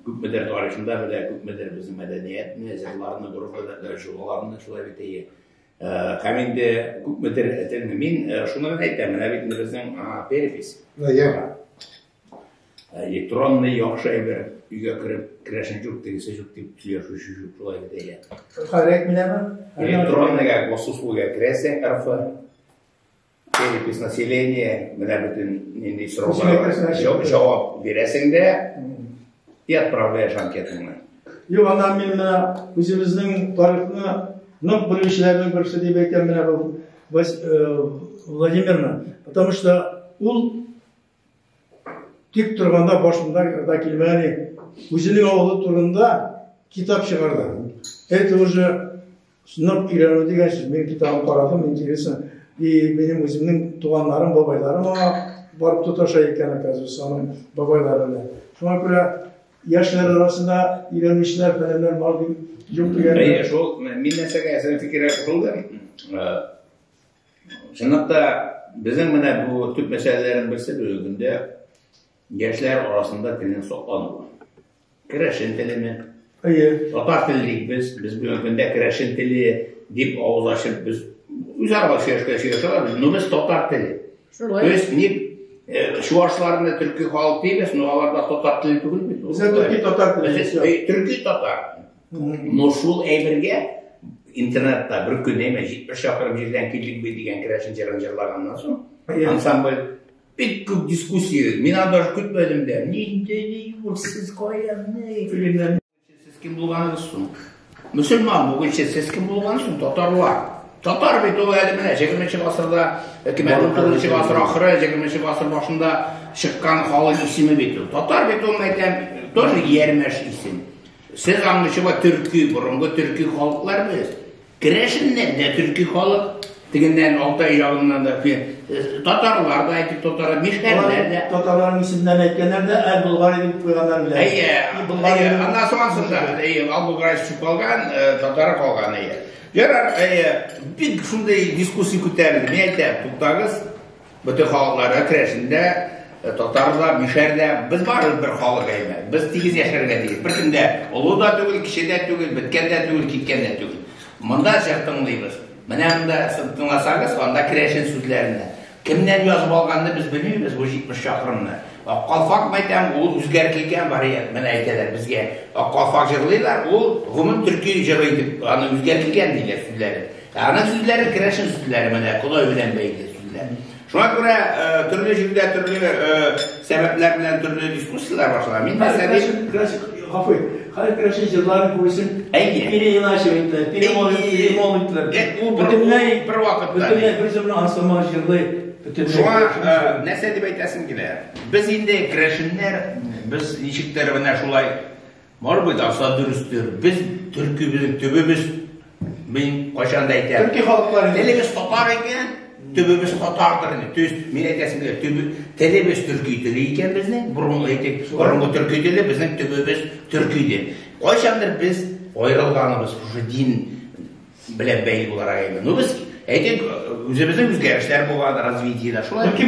күпмедер тарихында белә, күпмедер безнең мәдәниятне, җырларны, гореф-гадәтләр, җолаларны шулай бит әйе. Һәм инде күпмедер әтән мин шуны гына әйтәм, менә бит безнең перепись. Әйе. Электронный яхшы әйбер, өйгә кереп, керәшен җук, тегесе җук дип сөйләшүче җук, шулай бит әйе. Хәрәк менәме? Электронныйга, госуслуга керәсең, РФ, Перепись населения, менә бөтен нинди сорауларга җавап бирәсең дә и отправляешь анкетаңны. Юк, аннан мин менә үзебезнең тарихны нык белүчеләрнең берсе дип әйтәм менә бу э, Владимирна. Потому что ул Тик торганда башында да килмәде. Үзенең авылы турында китап чыгарды. Это уже сынап өйрәнү дигән сүз. Мин китабын карадым, интересно. И минем үземнең туганнарым, бабайларым аңа барып тоташа икән, оказывается, аның бабайлары белән. Шуңа күрә яшьләр арасында өйрәнүчеләр фәләннәр бар дип юк дигән. Әйе, шул мин нәрсәгә әзер фикер кылдым. Э, Чынлап та, безнең менә бу төп мәсьәләләрнең берсе бүгенге көндә яшьләр арасында телнең саклануы. Керәшен телеме? Әйе. Татар теле дик без, без бүгенге көндә керәшен теле дип авыз ачып без үзара сөйләшкән сөйләшәбез, но без татар теле. Шулай. То есть ник э, чувашларны төрки халык дибез, но алар да татар теле түгел бит. Безгә төрки татар теле. Төрки татар. Но шул әйбергә интернетта бер көн әйме, җитмеш шақырым җирдән килдек бит дигән керәшен җырын җырлаганнан соң, ансамбль бик күп дискуссия, мин аны даже көтмәдем дә, нинди ни ул, сез каян, ни, фильмнәр, сез кем булганыгыз соң? Мөселман бүгенче сез кем булганыгыз соң, татарлар. Татар бит ул әле менә 20 гасырда, 2019 гасыр ахыры, 20 гасыр башында чыккан халык исеме бит ул. Татар бит ул, әйтәм, тоже ярмәш исем. Сез аңлычыба төрки, борынгы төрки халыклар без. Керәшеннән дә төрки халык, тегеннән Алтай ягыннан да э, татарлар да әйтик татар, мишәрләр дә. Татарларның исемнәрен әйткәннәр дә әл Булгари дип куйганнар белән. Әйе, Булгари. Аннан соң ансында, әйе, Ал Булгари чүп алган, э, татар калган әйе. Ярар, әйе, бик шундый дискуссия күтәрелде. Мин әйтәм, туктагыз, Бөтен халыкларга керәсен дә, э, татар да, мишәр дә, без барыбыз бер халык әйме. Без тигез яшәргә тиеш. Беркем дә олы да түгел, кече дә түгел, беткән дә түгел, киткән дә түгел. Монда җыр тыңлыйбыз. Менә монда сез тыңласагыз, анда керәшен сүзләренә. Кемнән язып алганны без белмибез бу 70 чакрымны. Ак калфак мәйтәм, ул үзгәр килгән вариант. Менә әйтәләр безгә. Ак калфак җырлыйлар, ул гомум төрки җыры итеп, аны үзгәр килгән диләр сүзләрен. Ә ана сүзләре керәшен сүзләре менә Ходай белән бәйле сүзләр. Шуңа күрә төрле җирдә төрле сәбәпләр белән төрле дискуссияләр башлана. Мин мәсәлән, Гафу, хәзер керәшен җырларын күбесен Пире Иначе әйтте, Пире Молин, Пире Молин дип. Ул бөтенләй бер вакытта. Бөтенләй бер җырны ансамбль җырлый. Шуңа нәрсә дип әйтәсем килә? Без инде керәшеннәр, без ничектер менә шулай Может быть, аса дөрестер. Без төрки безнең төбебез мин кайчан да әйтәм. Төрки халыклар инде. Телебез татар икән, төбебез татардыр инде. Төз мин әйтәсем килә, төбе телебез төрки теле икән безнең. Борын әйтик, борынгы төрки теле безнең төбебез төрки иде. Кайчандыр без аерылганыбыз, уже дин белән бәйле буларак әйдә. Ну без әйтик, үзебезнең үзгәрешләр булган развитиедә шулай. Бәлки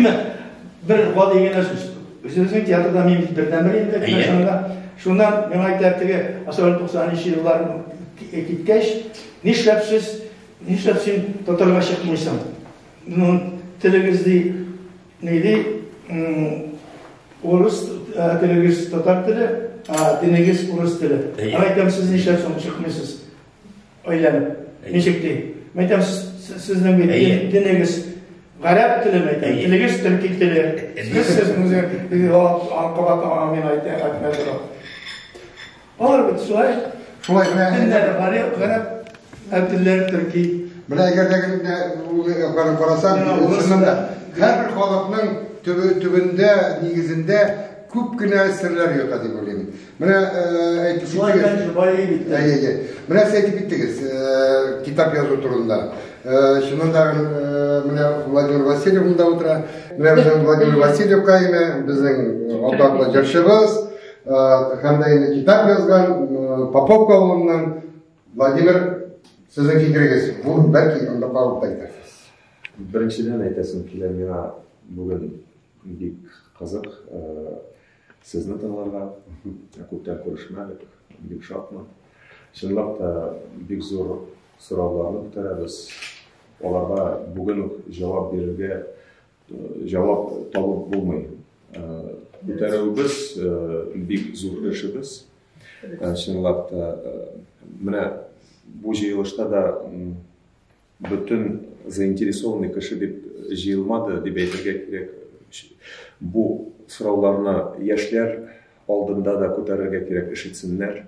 бер гади генә сүз. Үзебезнең театрда мин бит бердәнбер инде пьесамда. Шуннан миңа әйтәр теге Асар 90-нчы еллар киткәч, нишләп сез, нишләп син татарга чыкмыйсың? Ну, телегез ди, ни ди, урыс телегез татар теле, а динегез урыс теле. Әйтәм, сез нишләп соң чыкмыйсыз? Өйләнеп. Ничек ди? Мәйтәм, сезнең бит динегез гарәп теле мәйтәм, телегез төрки теле. Сез сезнең анкабат амин әйтә, әйтмә тора. Алар бит шулай. Шулай гына. Телләр гарәп, гарәп, ә телләр төрки. Менә әгәр дә ул карап карасаң, чыннан да һәр халыкның төбендә, нигезендә күп кенә серләр ята дип уйлыйм. Менә әйтеп киттегез. Әйе, менә сез әйтеп киттегез, китап язу турында. Чыннан да менә Владимир Васильев монда утыра. Менә безнең Владимир Васильев кайме, безнең атаклы җырчыбыз, һәм дә инде китап язган Поповка авылыннан Владимир сезнең фикерегез. Бу бәлки анда калып әйтәсез. Беренчедән әйтәсем килә, миңа бүген бик кызык Сезне тыңларга ә күптән күрешмәдек, бик шатмын. Чынлап та бик зур сорауларны күтәрәбез. Аларга бүген үк җавап бирергә җавап табып булмый. Күтәрүебез бик зур эшебез. Чынлап та менә бу җыелышта да Бөтен заинтересованный кеше дип җыелмады, дип әйтергә кирәк. Бу сорауларны яшьләр алдында да күтәрергә кирәк, ишетсеннәр,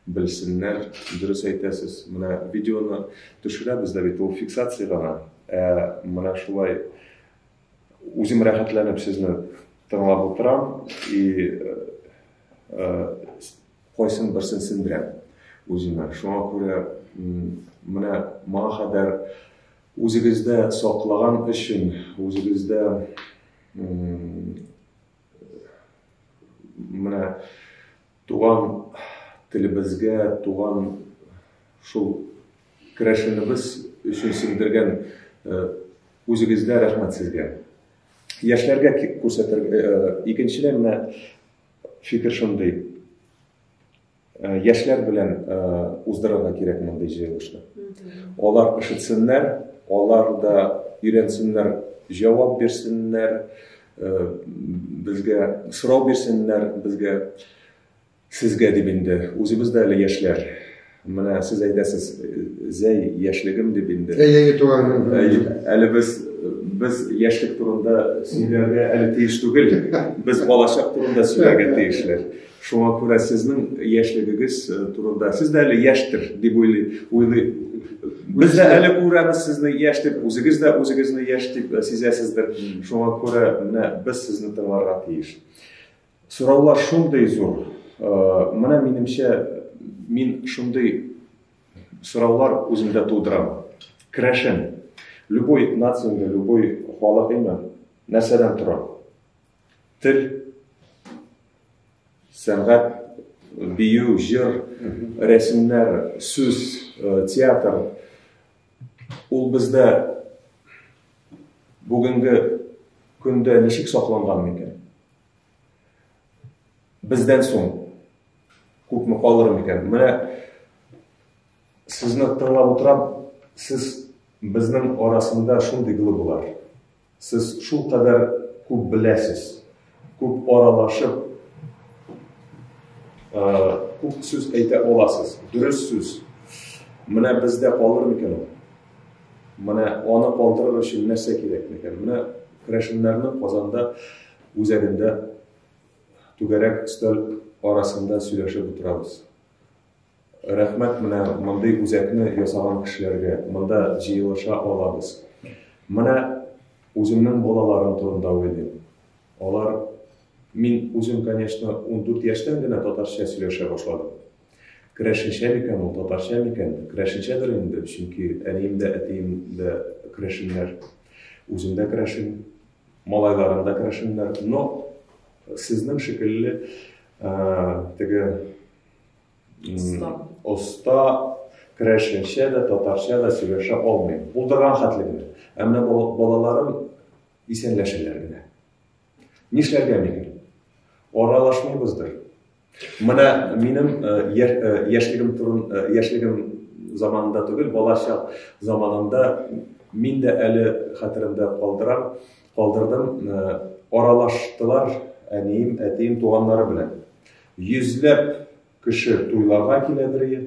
белсеннәр. Дөрес әйтәсез, менә видеоны төшерәбез дә бит, ул фиксация гына. Ә менә шулай үзем рәхәтләнеп сезне тыңлап утырам и э, кайсын берсен сендерәм үземә. Шуңа күрә менә моңа кадәр үзегездә саклаган өчен, үзегездә менә туган телебезгә, туган шул керәшенебез өчен сеңдергән э, үзегездә рәхмәт сезгә. Яшьләргә күрсәтергә, э, икенчедән менә Фикер шундый. Э, яшьләр белән э, уздырырга кирәк мондый җыелышны. Алар ишетсеннәр, алар да өйрәнсеннәр, җавап бирсеннәр, э, безгә сорау бирсеннәр, безгә сезгә дип инде. Үзебез дә әле яшьләр. Менә сез әйтәсез, Зәй, яшьлегем дип инде. Әйе, әйе, туган. Әйе, әле без без яшьлек турында сөйләргә әле тиеш түгел. Без балачак турында сөйләргә тиешләр. Шуңа күрә сезнең яшьлегегез э, турында сез дә әле яшьтер дип уйлый. Без дә әле күрәбез сезне яшь дип, үзегез дә үзегезне яшь дип э, сизәсездер. Шуңа күрә менә без сезне тыңларга тиеш. Сораулар шундый зур. Менә минемчә, мин шундый сораулар үземдә тудырам. Керәшен. Любой нацияңдә, любой халык име, нәрсәдән тора? Тел, сәнгать, бию, җыр, рәсемнәр, сүз, театр. Ул бездә бүгенге көндә ничек сакланган микән? Бездән соң күпме калыр микән? Менә сезне тыңлап утырам, сез безнең арасында шундый глыбылар. Сез шул кадәр күп беләсез, күп аралашып, күп сүз әйтә аласыз, дөрес сүз. Менә бездә калыр микән ул? Менә аны калдырыр өчен нәрсә кирәк микән? Менә керәшеннәрнең Казанда үзәгендә түгәрәк өстәл арасында сөйләшеп утырабыз. Рәхмәт менә мондый үзәкне ясаган кешеләргә. Монда җыелыша алабыз. Менә үземнең балаларым турында уйлыйм. Алар мин үзем, конечно, 14 яшьтән генә татарча сөйләшә башладым. Керәшенчә микән ул, татарча микән? Керәшенчәдер инде, чөнки әнием дә, әтием дә керәшеннәр. Үзем дә керәшен, малайларым да керәшеннәр. Но сезнең шикелле теге оста керәшенчә дә, татарча да сөйләшә алмыйм. Булдырган хәтле генә. Ә менә балаларым исәнләшәләр генә. Нишләргә микән? Аралашмыйбыздыр. Менә минем яшьлегем турын яшьлегем заманында түгел, балача заманында мин дә әле хәтеремдә калдырам, калдырдым, аралаштылар әнием, әтием туганнары белән. Йөзләп кеше туйларга килә бер ел.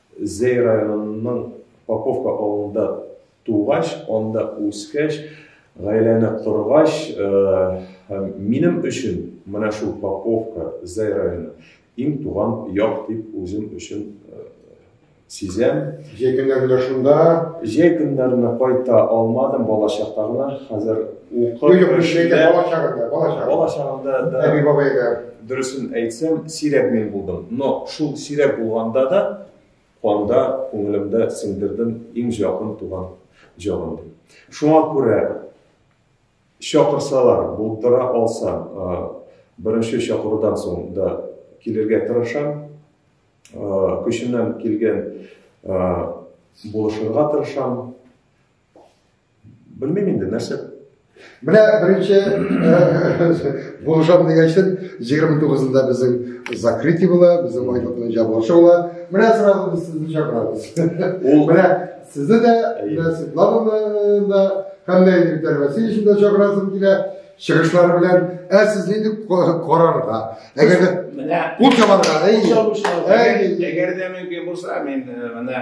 Зәй районының Поповка авылында тугач, анда үскәч, гаиләне коргач, минем өчен менә шул Поповка, Зәй районы иң туган як дип үзем өчен сизәм. Җәй көннәрендә шунда? Җәй көннәрендә кайта алмадым, бала чакта гына. Хәзер укып. Юк, юк, җәйдә бала чагында, бала чагында. Бала чагында да. Әби бабайда. Дөресен әйтсәм, сирәк мин булдым, но шул сирәк булганда да канда, күңелемдә сеңдердем иң җакын туган җырым дип. Шуңа күрә чакырсалар, булдыра алсам, беренче чакырудан соң да килергә тырышам. Көчемнән килгән булышырга тырышам. Белмим инде, нәрсә? Менә беренче булышам дигән өчен 29-нда безнең закрытие була, безнең айлыкның җабылышы була. Менә сразу без сезне чакырабыз. Ул менә сезне дә, менә Светлананы да, һәм дә Виктор Васильевичны да чакырасым килә. Чыгышлары белән, ә сез нинди карарга? Әгәр дә менә кул чабарга, әйе. Әгәр дә мөмкин булса, мин менә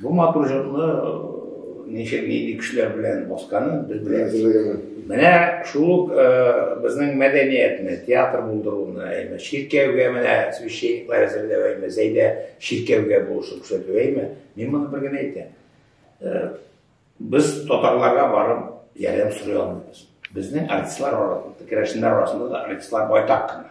Бу матур җырны ничек нинди кешеләр белән басканы без беләбез. Менә шул безнең мәдәниятне, театр булдыруны, әйме, чиркәүгә менә священниклар әзерләү, әйме, Зәйдә чиркәүгә булышып күрсәтү, әйме. Мин моны бер генә әйтәм. Без татарларга барып ярдәм сорый алмыйбыз. Безнең артистлар арасында, керәшеннәр арасында да артистлар байтак кына.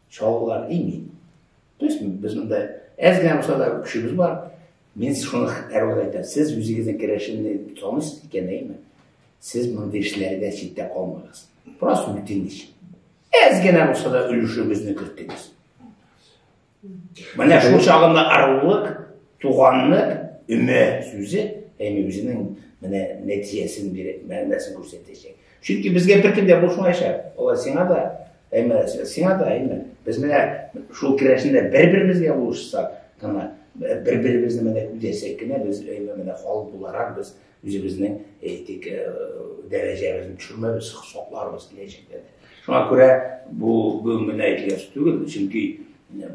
чалбар имин. То есть без монда әз генә булса да көчебез бар. Мин шуны әрвәт әйтәм. Сез үзегезнең керәшенне таныйсыз икән, әйме? Сез мондый эшләргә читтә калмагыз. Просто үтенеч. Әз генә булса да өлешегезне кертегез. Менә шул чагында арулык, туганлык, өмә сүзе әйме үзенең менә нәтиҗәсен бирә, мәгънәсен күрсәтәчәк. Чөнки безгә беркем дә булышмаячак. Алар сиңа да Әмма сиңа да әмма без менә шул керәшендә бер-беребезгә булышсак, гына бер-беребезне менә күзәсәк кенә без әмма менә халык буларак без үзебезнең әйтик э, дәрәҗәбезне төшермәбез, сакларбыз киләчәктә дә. Шуңа күрә бу бүгенге генә әйтелгән сүз түгел, чөнки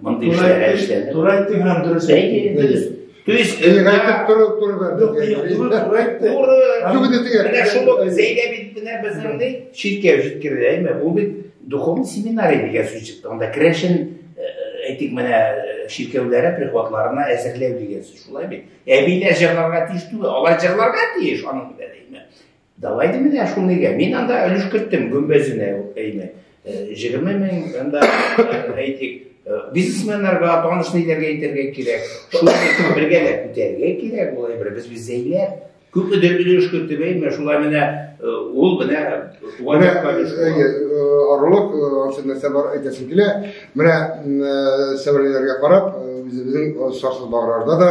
Мондый эшләргә эшләде. Туры әйттең һәм дөрес әйттең. Дөрес. То есть... Элек әйтеп торып туры Юк, туры, туры әйтте. Туры. Юк, инде тегәр. Менә шул ук Зәйдә бит менә безнең ни? Читкә җиткерде, әйме? Ул бит духовный семинарий дигән сүз чыкты. Анда керәшен әйтик менә чиркәүләре прихватларына әзерләү дигән сүз шулай бит. Әбиләр җырларга тиеш түгел, алар җырларга тиеш аның белән әйме? Давай ди менә шул нигә. Мин анда өлеш керттем гөмбәзенә әйме. 20 мең анда әйтик бизнесменнарга таныш ниләргә әйтергә кирәк. Шул бергә дә күтәрергә кирәк болай бер без без зәйләр. Күп өдер өлеш керттем әйме. Шулай менә ул менә туган якка Орлык ансында сәбәр әйтәсем килә. Менә сәбәрләргә карап, үзебезнең сарсыз баграрда да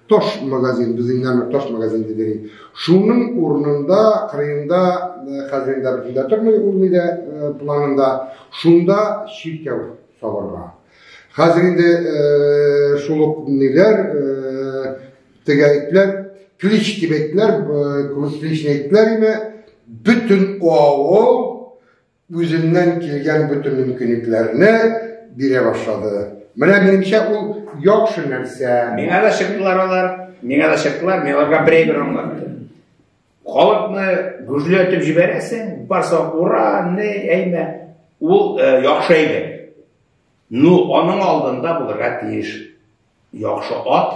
Таш магазин, без инде аны таш магазин дип йөрик. Шуның урынында, кырыенда, э, хәзер инде бөтендә тормый ул нидә э, планында, шунда чиркәү салырга. Хәзер инде э, шул ук ниләр, теге әйтләр, клич дип әйтләр, клич әйтләр име, бөтен авыл үзеннән килгән бөтен мөмкинлекләрне бирә башлады. Менә минемчә ул яхшы нәрсә. Миңа да чыктылар алар, миңа да чыктылар, мин аларга берәй-бер аңлаттым. Халыкны гөжләтеп җибәрәсең, барса ура, не, әйме, ул э, яхшы әйбер. Ну, аның алдында булырга тиеш яхшы ат,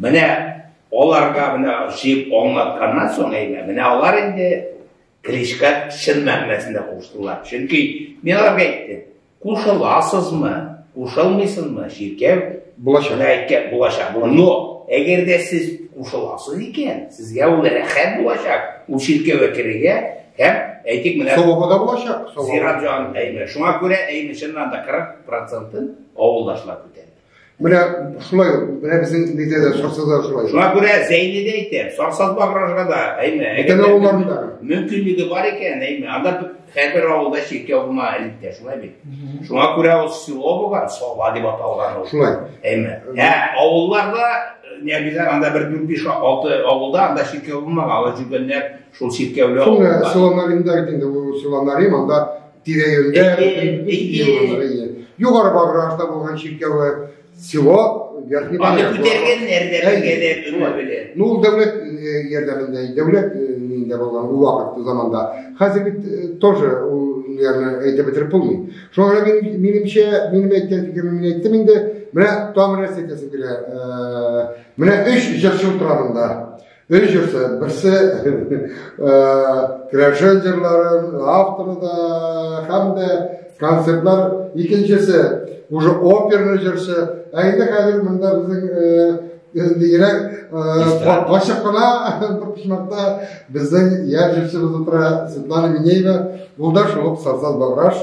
Менә аларга менә җыеп аңлатканнан соң әйбә, менә алар инде Кличка чын мәгънәсендә куштылар. Чөнки мин аларга әйттем, кушыласызмы, кушылмыйсызмы, чиркәү булачак. Әйткән булачак. Но әгәр дә сез кушыласыз икән, сезгә ул рәхәт булачак. Ул чиркәүгә керергә һәм әйтик менә савабы да булачак. Зират җан әйме. Шуңа күрә әйме чыннан да 40 процентын авылдашлар күтәрде. Менә шулай, менә безнең нидә дә Сарсазда шулай. Шуңа күрә Зәйне дә әйтәм, Сарсазга барырга да, әйме, әгәр авылларында мөмкинлеге бар икән, әйме, анда һәрбер авылда чиркәү булма электә, шулай бит. Шуңа күрә ул село булган, Сова дип аталган ул. Шулай. Әйме. Ә авылларда не обязательно анда бер дүрт биш алты авылда анда чиркәү булмаган, алар жүргәннәр шул чиркәүле авылда. Шул село Наринда инде ул село Нарин, анда Тирә-юньдә югары баррашта булган чиркәве село Верхний Аны күтәргәннәр дә бергәләп шулай белән. Ну, ул дәүләт ярдәмендә, дәүләт нинде булган ул вакыт заманда. Хәзер бит тоже ул ниләрне әйтеп бетереп булмый. Шуңа күрә мин минемчә, минем әйткән фикерем мин әйттем инде. Менә тамыр әсетәсем килә. Менә 3 җырчы утыра монда. Өй җырсы, берсе керәшен җырларын, авторы да, һәм дә концертлар, икенчесе, уже оперный җырсы. Ә инде хәзер монда безнең дигән ачык кына бер почмакта безнең яр җырчыбыз утыра Светлана Минеева, ул да шул Сарсаз Баграш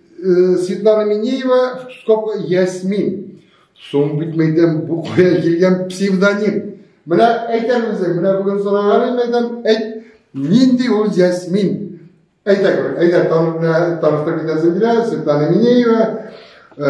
Э, Светлана Минеева, скобка, Ясмин. Соң бит мәйдәм бу кая килгән псевдоним. Менә әйтәм үзем, менә бүген сораган идем, әйтәм, әйт, нинди ул Ясмин? Әйтә күр, әйтә танып китәсең килә, Светлана Минеева. Э,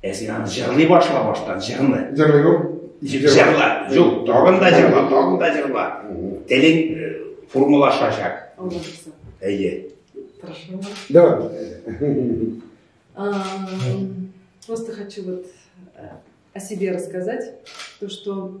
Ә син аны җырлый башла баштан, җырны. Җырлый гү? Җырла, җул, тагын да җырла, тагын да җырла. Телең э, формулашачак. Әйе. Тырышмын. Давай. Просто хочу вот э, о себе рассказать, то, что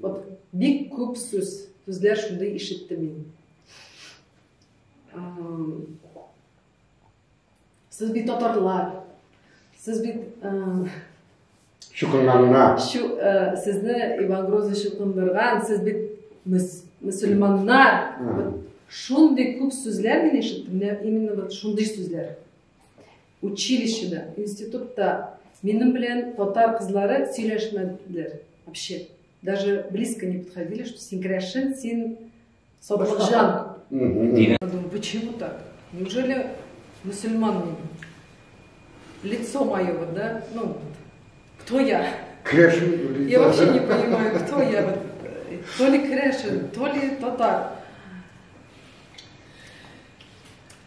Вот бик күп сүз, сүзләр шундый ишеттем мин. Сез бит татарлар. Сез бит Шукынланына. Шу, ә, сезне Иван Грозный шукындырган, сез бит мөс, мусульманнар. Шундый күп сүзләр мин ишеттем, именно вот шундый сүзләр. Училищеда, институтта минем белән татар кызлары сөйләшмәделәр вообще. Даже близко не подходили, что син керәшен, син сатлыкҗан. Я думаю, почему так? Неужели мусульман мин? Лицо мое, вот, да? Ну, вот. кто я? Крэшин. Я вообще не понимаю, кто я. Вот. То ли крэшин, то ли татар.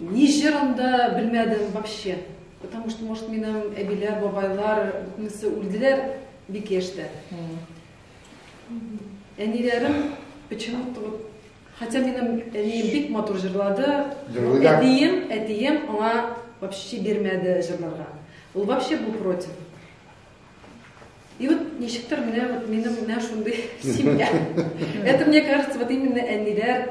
Ни җыр анда белмәдем вообще. Потому что, может, минем әбиләр, бабайлар, бөтенесе үлделәр бик яшьтә. Әниләрем почему-то вот Хотя минем әнием бик матур җырлады. Әтием, әтием аңа вообще бирмәде җырларга. Ул вообще был против. И вот ничектер менә вот минем менә шундый семья. Это мне кажется вот именно әниләр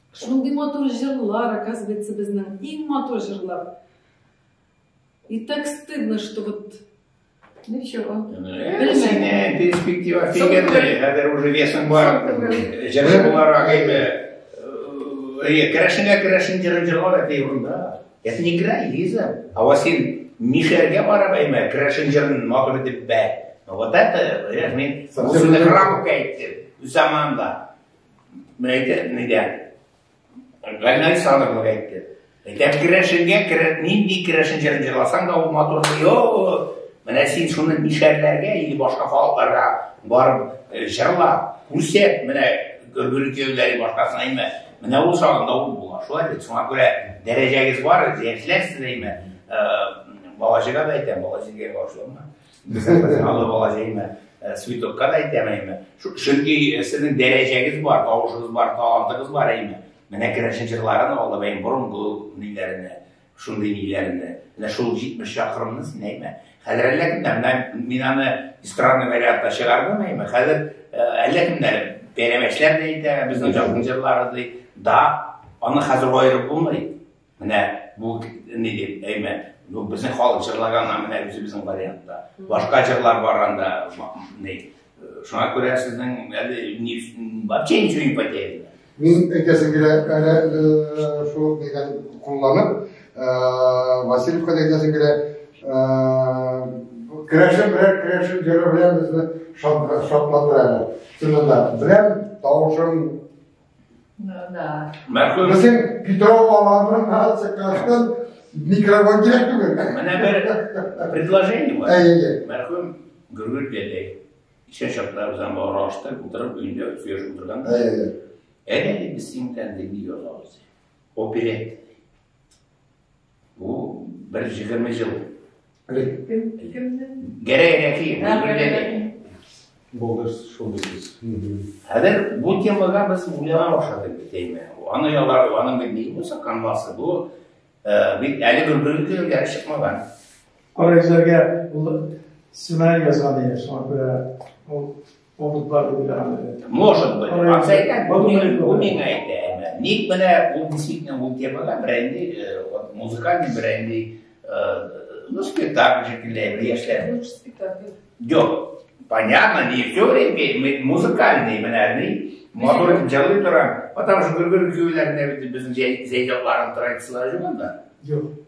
Шундый матур җырлар, оказывается, безнең иң матур җырлар. И так стыдно, что вот Ничего. Сине перспектива фигенный, хәзер уже весом бар. Җыры буларак әйме. Керәшенгә керәшен җырын җырлар әти урында. Я не играй, Лиза. А вот син Мишәргә барып әйме, керәшен җырын матур итеп бәй. Вот это, я мин, бу сүзне храмка әйттем, заманда. Мәйтәк нидә? Гайнай садыр мә әйтте. Мәйтәк керәшенгә керә, нинди керәшен җырын җырласаң да ул матур. Йо, менә син шуны нишәрләргә или башка халыкларга барып э, җырлап, күрсәт, менә гөргүле кияүләре башкасына әйме. Менә ул сагында ул була. Шулай бит, шуңа күрә дәрәҗәгез бар, җәяшләрсез әйме. Э, Балачыга да әйтәм, балачыга башлама. Алла бала җәймә, э, цветокка да әйтәм әйме. Чөнки э, сезнең дәрәҗәгез бар, тавышыгыз бар, талантыгыз бар әйме. Менә керәшен җырларын алда бәйм борынгы ниләренә, шундый ниләренә. Менә шул 70 чакрымны син әйме. Хәзер әллә кемнәр, мен мин аны эстрадный вариантта чыгардым әйме. Хәзер э, әллә кемнәр бәрәмәчләр дә әйтә, безнең җырны җырлады. Да, аны хәзер аерып булмый. Менә бу ни дип әймен. Бу безнең халык җырлаганнан менә үзебезнең вариантта. Башка җырлар бар анда. Ни. Шуңа күрә сезнең әле ни вообще ничего не потеряно. Мин әйтәсем килә, әле э, шул дигән кулланып, э, Васильевка әйтәсем килә, э, керәшен белән керәшен җыры белән безне шатландыра әле. Чынында белән тавышым Безнең Петров балаларының нация картын микрофон кирәк түгел. Менә бер предложение бар. Әйе. Мәрхүм Гөргүл дәдәй. Ишә чакта үзем бар ашты, утырып өйдә сөйләшеп утырганда. Әйе. Әйе, без синтән дип язабыз. Оперет. Бу бер җигерме ел. Гәрәгәрәки. Булдыр шул бит. Хәзер бу темага без уйлана башладык бит әйме. Аны ялар, аны бит ни булса канвасы бу э, бит әле бер бер көн гәрәк чыкмаган. Карагызларга сценарий язган иде, шуңа күрә ул Могут бар дип әйтәм. Может быть. Акса әйтә, бу миңа әйтә. Ник менә ул действительно ул темага берәнди э, музыкальный берәнди э, ну спектакль шикелле яшьләр. Ну спектакль. Юк. Понятно, не все время музыкальный менә ни матур итеп җырлый тора. Потому что гөргер көйләрендә бит безнең җәй җырларын традицияләре юк анда. Юк.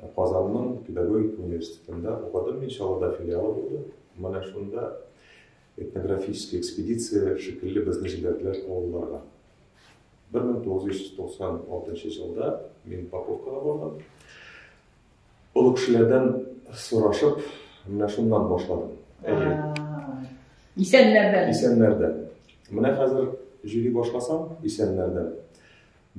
Ә Казанның педагогика университетында укыдым мин, Чаллыда филиалы булды. Менә шунда этнографический экспедиция шикелле безне җибәрделәр авылларга. 1996 елда мин Паковкага бардым. Олы кешеләрдән сорашып, менә шуннан башладым. Әйе. Исәннәрдән. Исәннәрдән. Менә хәзер җөри башласам, исәннәрдән.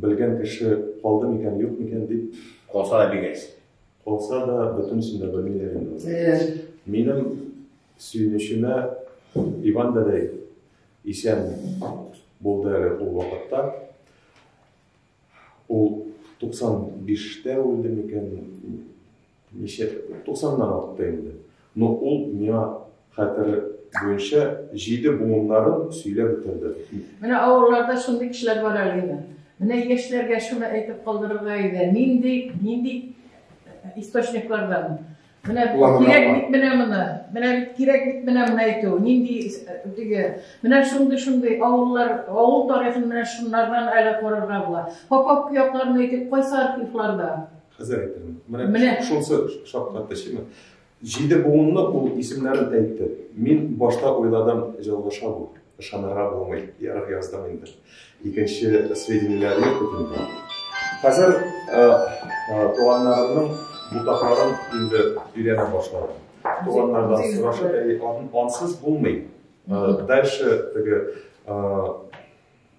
Белгән кеше калды микән, юк микән дип. Калса да бигәйсен. Калса да бөтенесен дә белмиләр инде. Минем сөенечемә Иван дәдәй исән булды әле ул вакытта. Ул 95-тә үлде микән, Ничә? Туксаннан артты инде. Но ул миңа хәтере буенча җиде буыннарын сөйләп бетерде. Менә авылларда шундый кешеләр бар әле инде. Менә яшьләргә шуны әйтеп калдырырга иде. Нинди, нинди источниклардан? Менә кирәк бит менә моны. Менә бит кирәк бит менә моны әйтү. Нинди теге. Менә шундый шундый авыллар, авыл тарихын менә шуннардан әле карарга була. Попов кыякларын әйтеп кайсы архивларда? Хәзер әйтәм. Менә шунсы шаккатты шимә. Җиде буынны ул исемнәрен әйтте. Мин башта уйладым, җылгыша бу. Ышанырга булмый. Ярык яздым инде. Икенче сведениеләр юк бит Хәзер э, э, туганнарымның бутакларын инде өйрәнә башладым. Туганнардан сорашып, әй, ансыз булмый. Э, дальше теге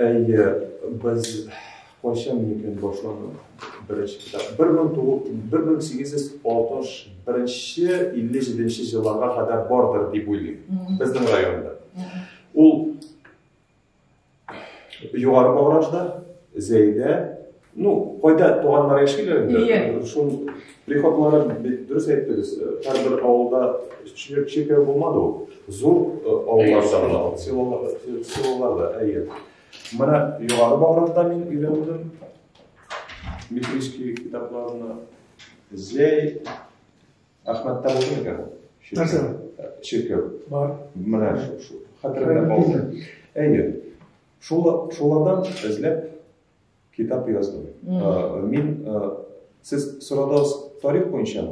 Әйе, без кайчан микән башланды беренче китап? 1861-57 елларга кадәр бардыр дип уйлыйм. Безнең районда. Ул Югары Багражда, Зәйдә, Ну, кайда туганнар яшиләр инде. Иә. Шул приходлары дөрес әйттегез. Һәрбер авылда чиркәү булмады ул. Зур авылларда гына, селоларда, әйе. Менә югары Багратта мин өйрәндем. Мифрийский китапларны Зәй Әхмәттә булды микән? Нәрсә? Чиркәү. Бар. Менә шул. Хәтерләп алды. Әйе. Шулардан эзләп Китап яздым. Э, мин э, сез сорадыгыз тарих буенча.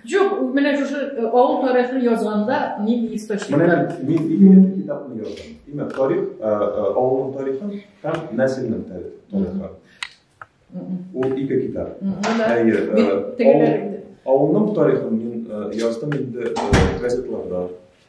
Жоқ, менә шушы э, авыл тарихын язганда мин источник. Менә мин ике китапны яздым. Димәк, тарих, авылның тарихы һәм нәселнең тарихы. Ул ике китап. Әйе, авылның тарихын мин яздым инде газетларда.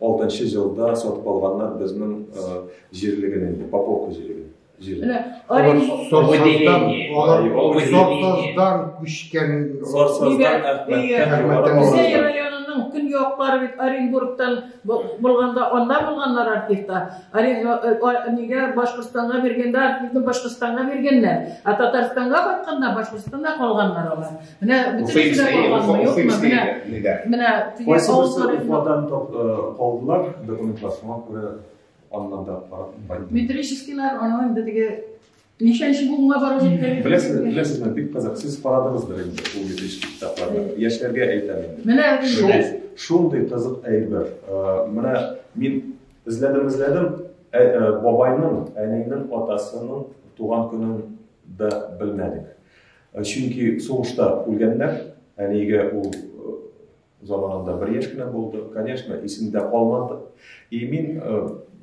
Алтынчы җылда сатып алганнар безнең җирлеген инде, Поповка җирлеген. Сортоздан күчкән Сортоздан районының күн яклары бит Оренбургтан булганда анда булганнар артистта. Нигә Башкортстанга биргәндә артистны Башкортстанга биргәннәр, ә Татарстанга кайтканда Башкортстанда калганнар алар. Менә бөтенесе дә калганмы, юкмы? Менә, менә теге авыллар... Уфадан калдылар, документлар шуңа күрә аннан да карап Метрическийлар, аны инде теге ничәнче буынга барып җиткән. Беләсез, беләсезме, бик кызык. Сез карадыгыздыр инде ул метрический китапларны. Яшьләргә әйтәм инде. Менә шундый кызык әйбер. Менә мин эзләдем, эзләдем. Бабайның, әнинең, атасының туган көнен дә белмәдек. Чөнки сугышта үлгәннәр, әниегә ул заманында бер яшь кенә булды, конечно, исемдә калмады. И мин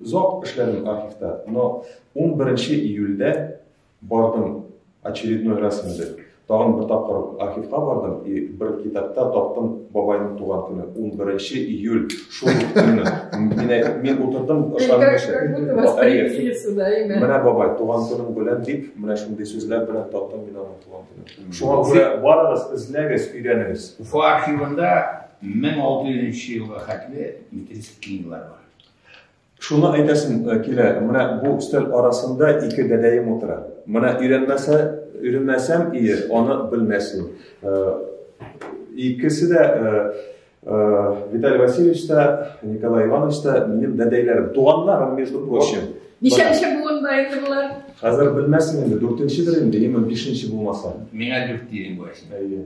озак эшләдем архивта, но 11 июльдә бардым очередной раз инде. Тагын бер тапкыр архивка бардым и бер китапта таптым бабайның туган көне 11 июль Шул ук көнне. Мин, мин утырдым, ошарым кеше. Менә бабай, туган көнең белән дип, менә шундый сүзләр белән таттым мин аның туган көнен. Шуңа күрә барыгыз, эзләгез, өйрәнегез. Уфа архивында 1600 елга хәтле метрический книгылар бар. Шуны әйтәсем э, килә, менә бу өстәл арасында ике дәдәем утыра. Менә өйрәнмәсә, өйрәнмәсәм ие, аны белмәсен. Э, икесе дә э, Виталий Васильевич та, Николай Иванович та минем дәдәйләрем, туганнарым, между прочим. Ничә ничә буын бар инде булар? Хәзер белмәссең инде, дүртенчедер инде, имин бишенче булмаса. Миңа дүрт дигән була. Әйе.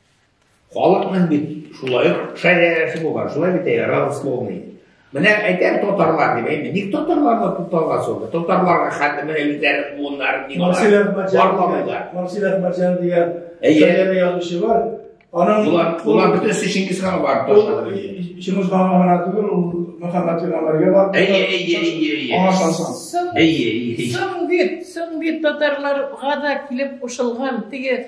Халыкның бит шулай ук шәрәфе булган, шулай бит әйе, родословный. Менә әйтәм татарлар дип әйме, ник татарларны тоталга соң? Татарларга хәтле менә үзләре буыннар ник Марсел Әхмәтҗан барламыйлар. Марсел Әхмәтҗан дигән шәһәр язучы бар. Аның булар, булар бит өсте Чингиз хан бар ташлады. Чингиз хан гына түгел, ул Мөхәммәд Пәйгамбәргә бар. Әйе, әйе, әйе, әйе. Аңа шансаң. Әйе, әйе. Соң бит, соң бит татарларга да килеп кушылган теге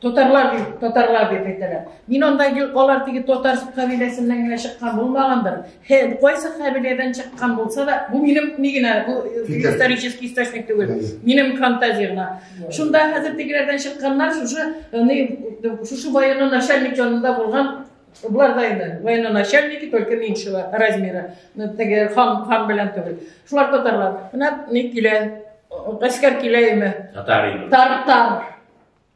Татарлар бит, татарлар дип әйтәләр. Мин анда алар теге татар кабиләсеннән генә чыккан булмагандыр. Хе, кайсы кабиләдән чыккан булса да, бу минем ни генә, бу э, исторический источник түгел. Минем фантазия гына. Шунда хәзер тегеләрдән чыкканнар шушы э, ни шушы военный начальник янында булган Булар да инде военный начальники, только меньшего размера, э, теге хан хан белән түгел. Шулар татарлар. Менә ни килә, гаскәр килә име? Татар инде. Тартар.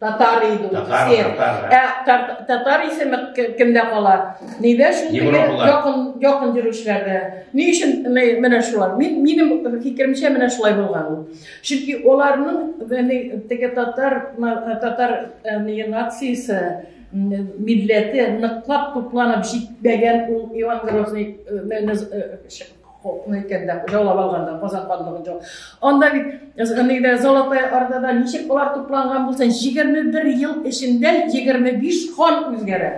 Татар иде ул. Татар, татар. Ә тар- татар исеме ки- кемдә кала? Нидә шул теге Европалар. якын якын йөрүчеләрдә? Ни өчен ме- менә шулар? Мин минем фикеремчә менә шулай булган ул. Чөнки аларның яни теге татар на- татар яни нациясе м, милләте ныклап тупланып җитмәгән ул Иван Грозный э, мене, э, ш- Хокны икәндә җаулап алганда Казан ханлыгын җау. Анда бит нигә Золотой Ордада ничек болар тупланган булсын, 21 ел эчендә 25 хан үзгәрә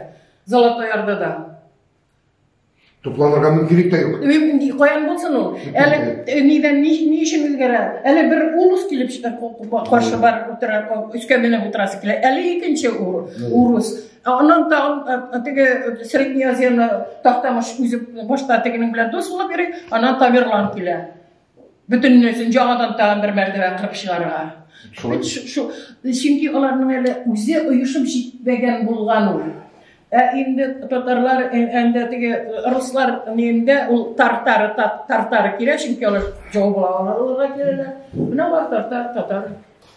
Золотой Ордада. Тупланырга мөмкинлек тә юк. Мөмкин каян булсын ул? Әле э, нидән ни, ни өчен үзгәрә? Әле бер урус килеп чыгып каршы бар утыра, өскә менеп утырасы килә. Әле икенче урус. Аннан тагын теге Средний Азияны Тахтамыш үзе башта тегенең белән дус булып йөри, аннан Тамерлан килә. Бөтеннәсен яңадан тагын бер мәртәбә кырып чыгарга. Шулай. Чөнки аларның әле үзе оешып җитмәгән булган ул. Ә инде татарлар, әндә теге руслар нинде ул тартары тартары килә, чөнки алар җау була аларга киләләр. Менә алар тартар татар.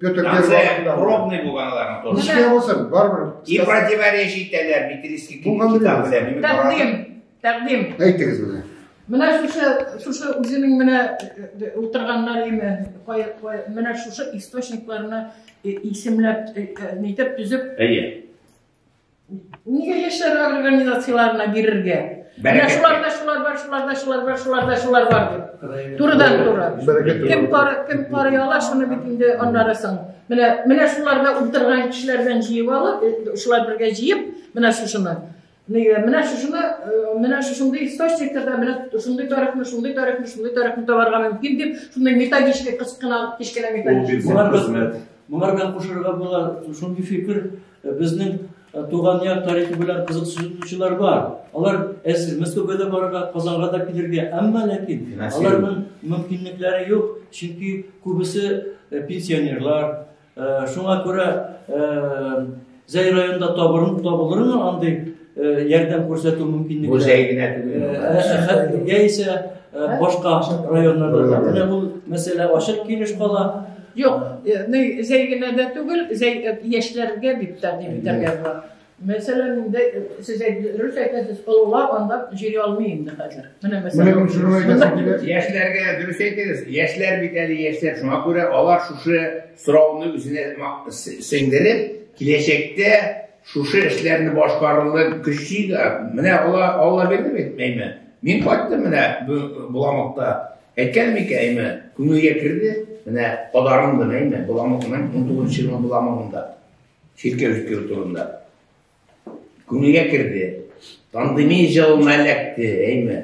Петр Первый пробный булган аларның тоже. Ничек булсын, барыбер. И противоречие итәләр Битрийский китабы белән. Тәкъдим, тәкъдим. Әйтегез менә. Менә шушы шушы үзенең менә утырганнар име, менә шушы источникларны исемләп нитеп төзеп. Әйе. Нигә яшьләр организацияләренә бирергә? Менә шуларда шулар бар, шуларда шулар бар, шуларда шулар бар дип. Турыдан туры. Кем кар, кем кар яла, шуны бит инде аннары соң. Менә менә шуларда утырган кешеләрдән җыеп алып, э, шулар бергә җыеп, менә шушыны. Нигә? Менә шушыны, э, менә шушындый источникларда менә шундый тарихны, шундый тарихны, шундый тарихны табарга мөмкин дип, шундый методичка кычкына, кечкенә методичка. Булар безне. Булар белән кушырга була, шундый фикер Безнең туган як тарихы белән кызыксынучылар бар. Алар әзер Мәскәүгә дә барырга, Казанга да килергә, әмма ләкин аларның мөмкинлекләре юк, чөнки күбесе пенсионерлар. Шуңа күрә Зәй районында табылырмы андый ярдәм күрсәтү мөмкинлеге музей генә түгел яисә башка районнарда да менә бу мәсьәлә ачык килеш кала юк зәй генә дә түгел зәй яшьләргә бит тә дип итәргә була Мәсәлән, инде сез дөрес әйтәсез, олылар анда җыри алмый инде хәзер. Менә мәсәлән, яшьләргә дөрес әйтегез. Яшьләр бит әле яшьләр, шуңа күрә алар шушы сорауны үзенә сеңдереп, киләчәктә Шушы эшләрне башкарырлык көчи дә, менә ала, алла бирде бит, әйме. Мин кайттым менә Буламыкта. Әйткән микән, әйме, күңелгә керде, менә подарындым, әйме, Буламыкның 19 елы Буламыкында. Чиркәү җиткерү турында. Күңелгә керде. Пандемия җылына эләкте, әйме.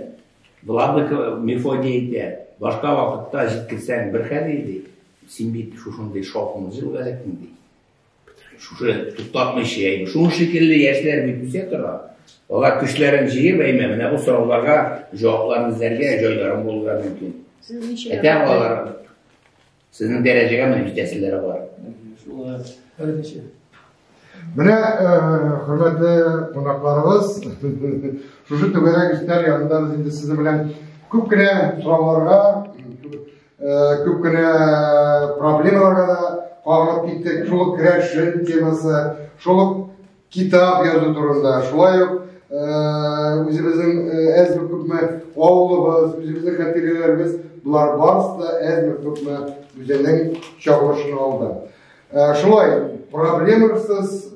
Буламык Мефодий әйтә, башка вакытта җиткерсәң бер хәл иде, син бит шушындый шаукымлы җылга эләктең, ди. Шушы туктатмыйча әйбер. Шуның шикелле яшьләр бит үсә тора. Алар көчләрен җыеп әйме, менә бу сорауларга җавапларын эзләргә җайларын булырга мөмкин. Сезнең ничә? Әтә балалар. Сезнең дәрәҗәгә менә җитәселәре бар. Шулай. Әлбәттә. Менә хөрмәтле кунакларыбыз, шушы түгәрәк өстәл янында без инде сезнең белән күп кенә сорауларга Күп кенә проблемаларга да кагылып киттек. Шул ук керәшен темасы, шул ук китап язу турында, шулай ук үзебезнең әзме күпме авылыбыз, үзебезнең хатирәләребез, болар барысы да әзме күпме үзенең чагылышын алды. Шулай проблемасыз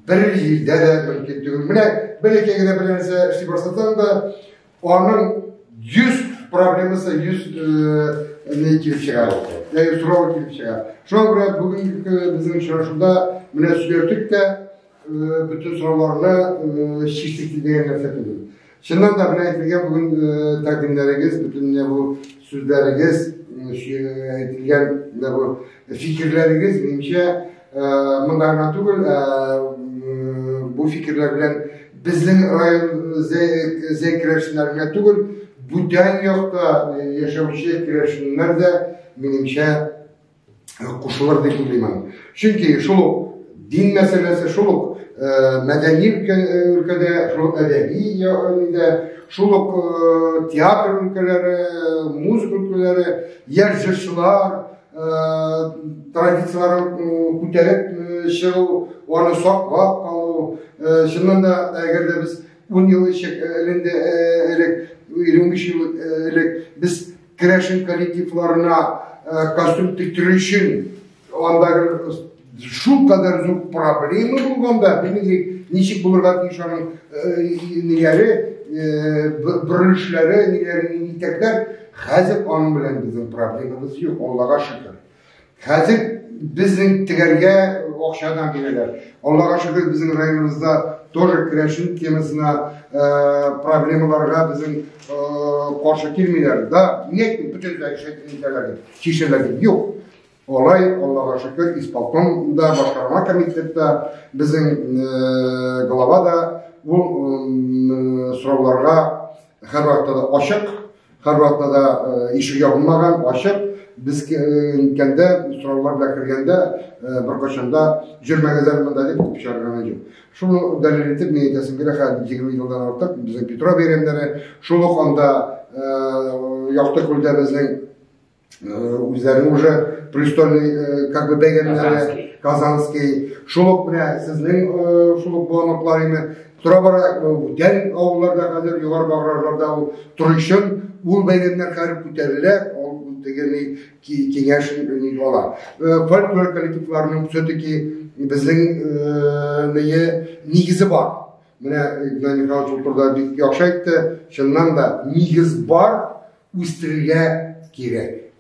бер җирдә дә мөмкин түгел. Менә бер икегә дә бер нәрсә эшли башласаң да, Аның йөз проблемасы йөз не килеп чыга. Яки сорау килеп чыга. Шуңа күрә бүгенге безнең очрашуда менә сөйләштек тә бөтен сорауларны чиштек дигән нәрсә түгел. Чыннан да менә әйтелгән бүген тәкъдимнәрегез бөтенләй бу Сүзләрегез, әйтелгән менә бу фикерләрегез, минемчә, монда гына түгел, бу фикерләр белән безнең район зәй керәшеннәр генә түгел, бүтән якта яшәүче керәшеннәр дә, минемчә, кушылыр дип уйлыймын. Чөнки шул ук дин мәсьәләсе, шул ук мәдәни өлкәдә, шул ук әдәби өлкәдә, шул ук театр өлкәләре, музыка өлкәләре, яшь җырчылар традицияләрен күтәреп чыгу, аны саклап калу. Чыннан да, әгәр дә без 10 ел элек, 15 ел элек без Керәшен коллективларына костюм тектерү өчен андагы шул кадәр зур проблема булганда, димик, ничек булырга тиеш аның нигәре, бөрелешләре, нигәре, нитәкләр, хәзер аның белән безнең проблемабыз юк, Аллага шөкер. Хәзер безнең тегәргә акчадан бирәләр. Аллага шөкер, безнең районыбызда тоже керәшен темасына проблемаларга безнең каршы килмиләр. Да, нет, бөтенләй шәйтәләр, чишәләр юк. Алай, Аллага шөкер, исполкомда, башкарма комитетта безнең глава да ул сорауларга һәрвакытта да ачык. Һәр вакытта да э, ишек ябылмаган, ачык. Без киткәндә, э, сораулар белән кергәндә, э, беркайчан да җөрмәгәләр монда дип куып чыгарган юк. Шуны дәлил итеп, мин әйтәсем килә, хәзер 20 елдан артык безнең Петро бәйрәмнәре, шул ук анда Якты күлдә безнең үзләре уже престольный э, как бы бәйгәннәре казанский шул ук менә сезнең э, шул ук боланоклар име тора бара бүтән э, авылларда хәзер югары баграрларда ул торыйшын ул бәйгәннәр хәреп күтәрелә ул дегени киңәш ала фольклор коллективларының все таки безнең ние нигезе бар менә игнат михайлович ул турыда бик яхшы әйтте чыннан да нигез бар Үстерергә кирәк.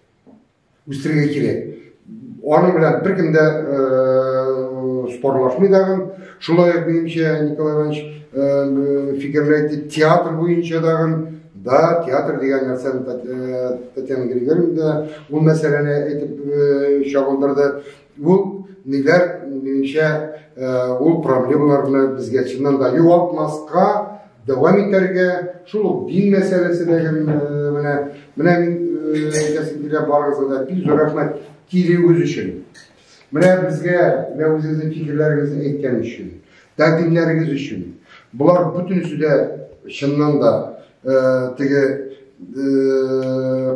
Үстерергә кирәк. Аның белән беркем дә спорлашмый дагын. Шулай ук минемчә Николай Иванович фикерләйте театр буенча дагын да театр дигән нәрсәне Татьяна Григорьевна да ул мәсьәләне әйтеп чагылдырды. Ул ниләр, минемчә, ул проблемаларны безгә чыннан да югалтмаска, дәвам итәргә, шул ук дин мәсьәләсе дә менә менә әйтәсем килә барыгызга да бик зур рәхмәт килүегез өчен. Менә безгә менә үзегезнең фикерләрегезне әйткән өчен, тәкъдимнәрегез өчен. Болар бөтенесе дә чыннан да теге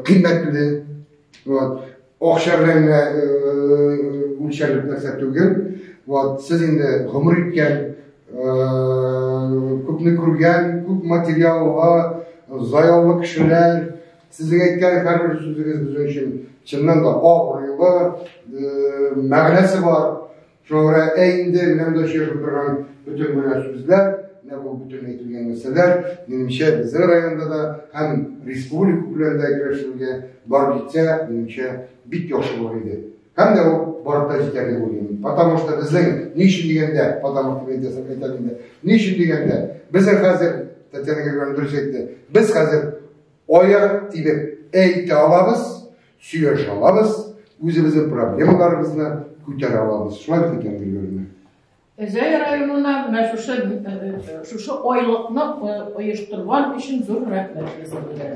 кыйммәтле. Вот. Акча белән генә үлчәрлек нәрсә түгел. Вот, сез инде гомер иткән, күпне күргән, күп материалга заялы кешеләр. Сезнең әйткән һәрбер сүзегез безнең өчен чыннан да абруйлы, мәгънәсе бар. Шуңа күрә инде менә монда сөйләшеп торган бөтен генә сүзләр, менә бу бөтен әйтелгән нәрсәләр, минемчә, безнең районда да һәм республика күләмендә әгерәшергә бар җитсә, минемчә, бик яхшы булыр иде. Һәм дә ул барып та җитәр дип уйлыйм. Потому что безнең ни өчен дигәндә, потому что мен дәсәм әйтәм инде. Ни өчен дигәндә, безнең хәзер Татьяна Григорьевна дөрес әйтте. Без хәзер аяк тибеп әйтә алабыз. Сөйләшә алабыз, үзебезнең проблемаларыбызны күтәрә алабыз. Шулай бит икән, Гөлгөлме? Зәй районына менә шушы шушы айлыкны оештырган өчен зур рәхмәт сезгә.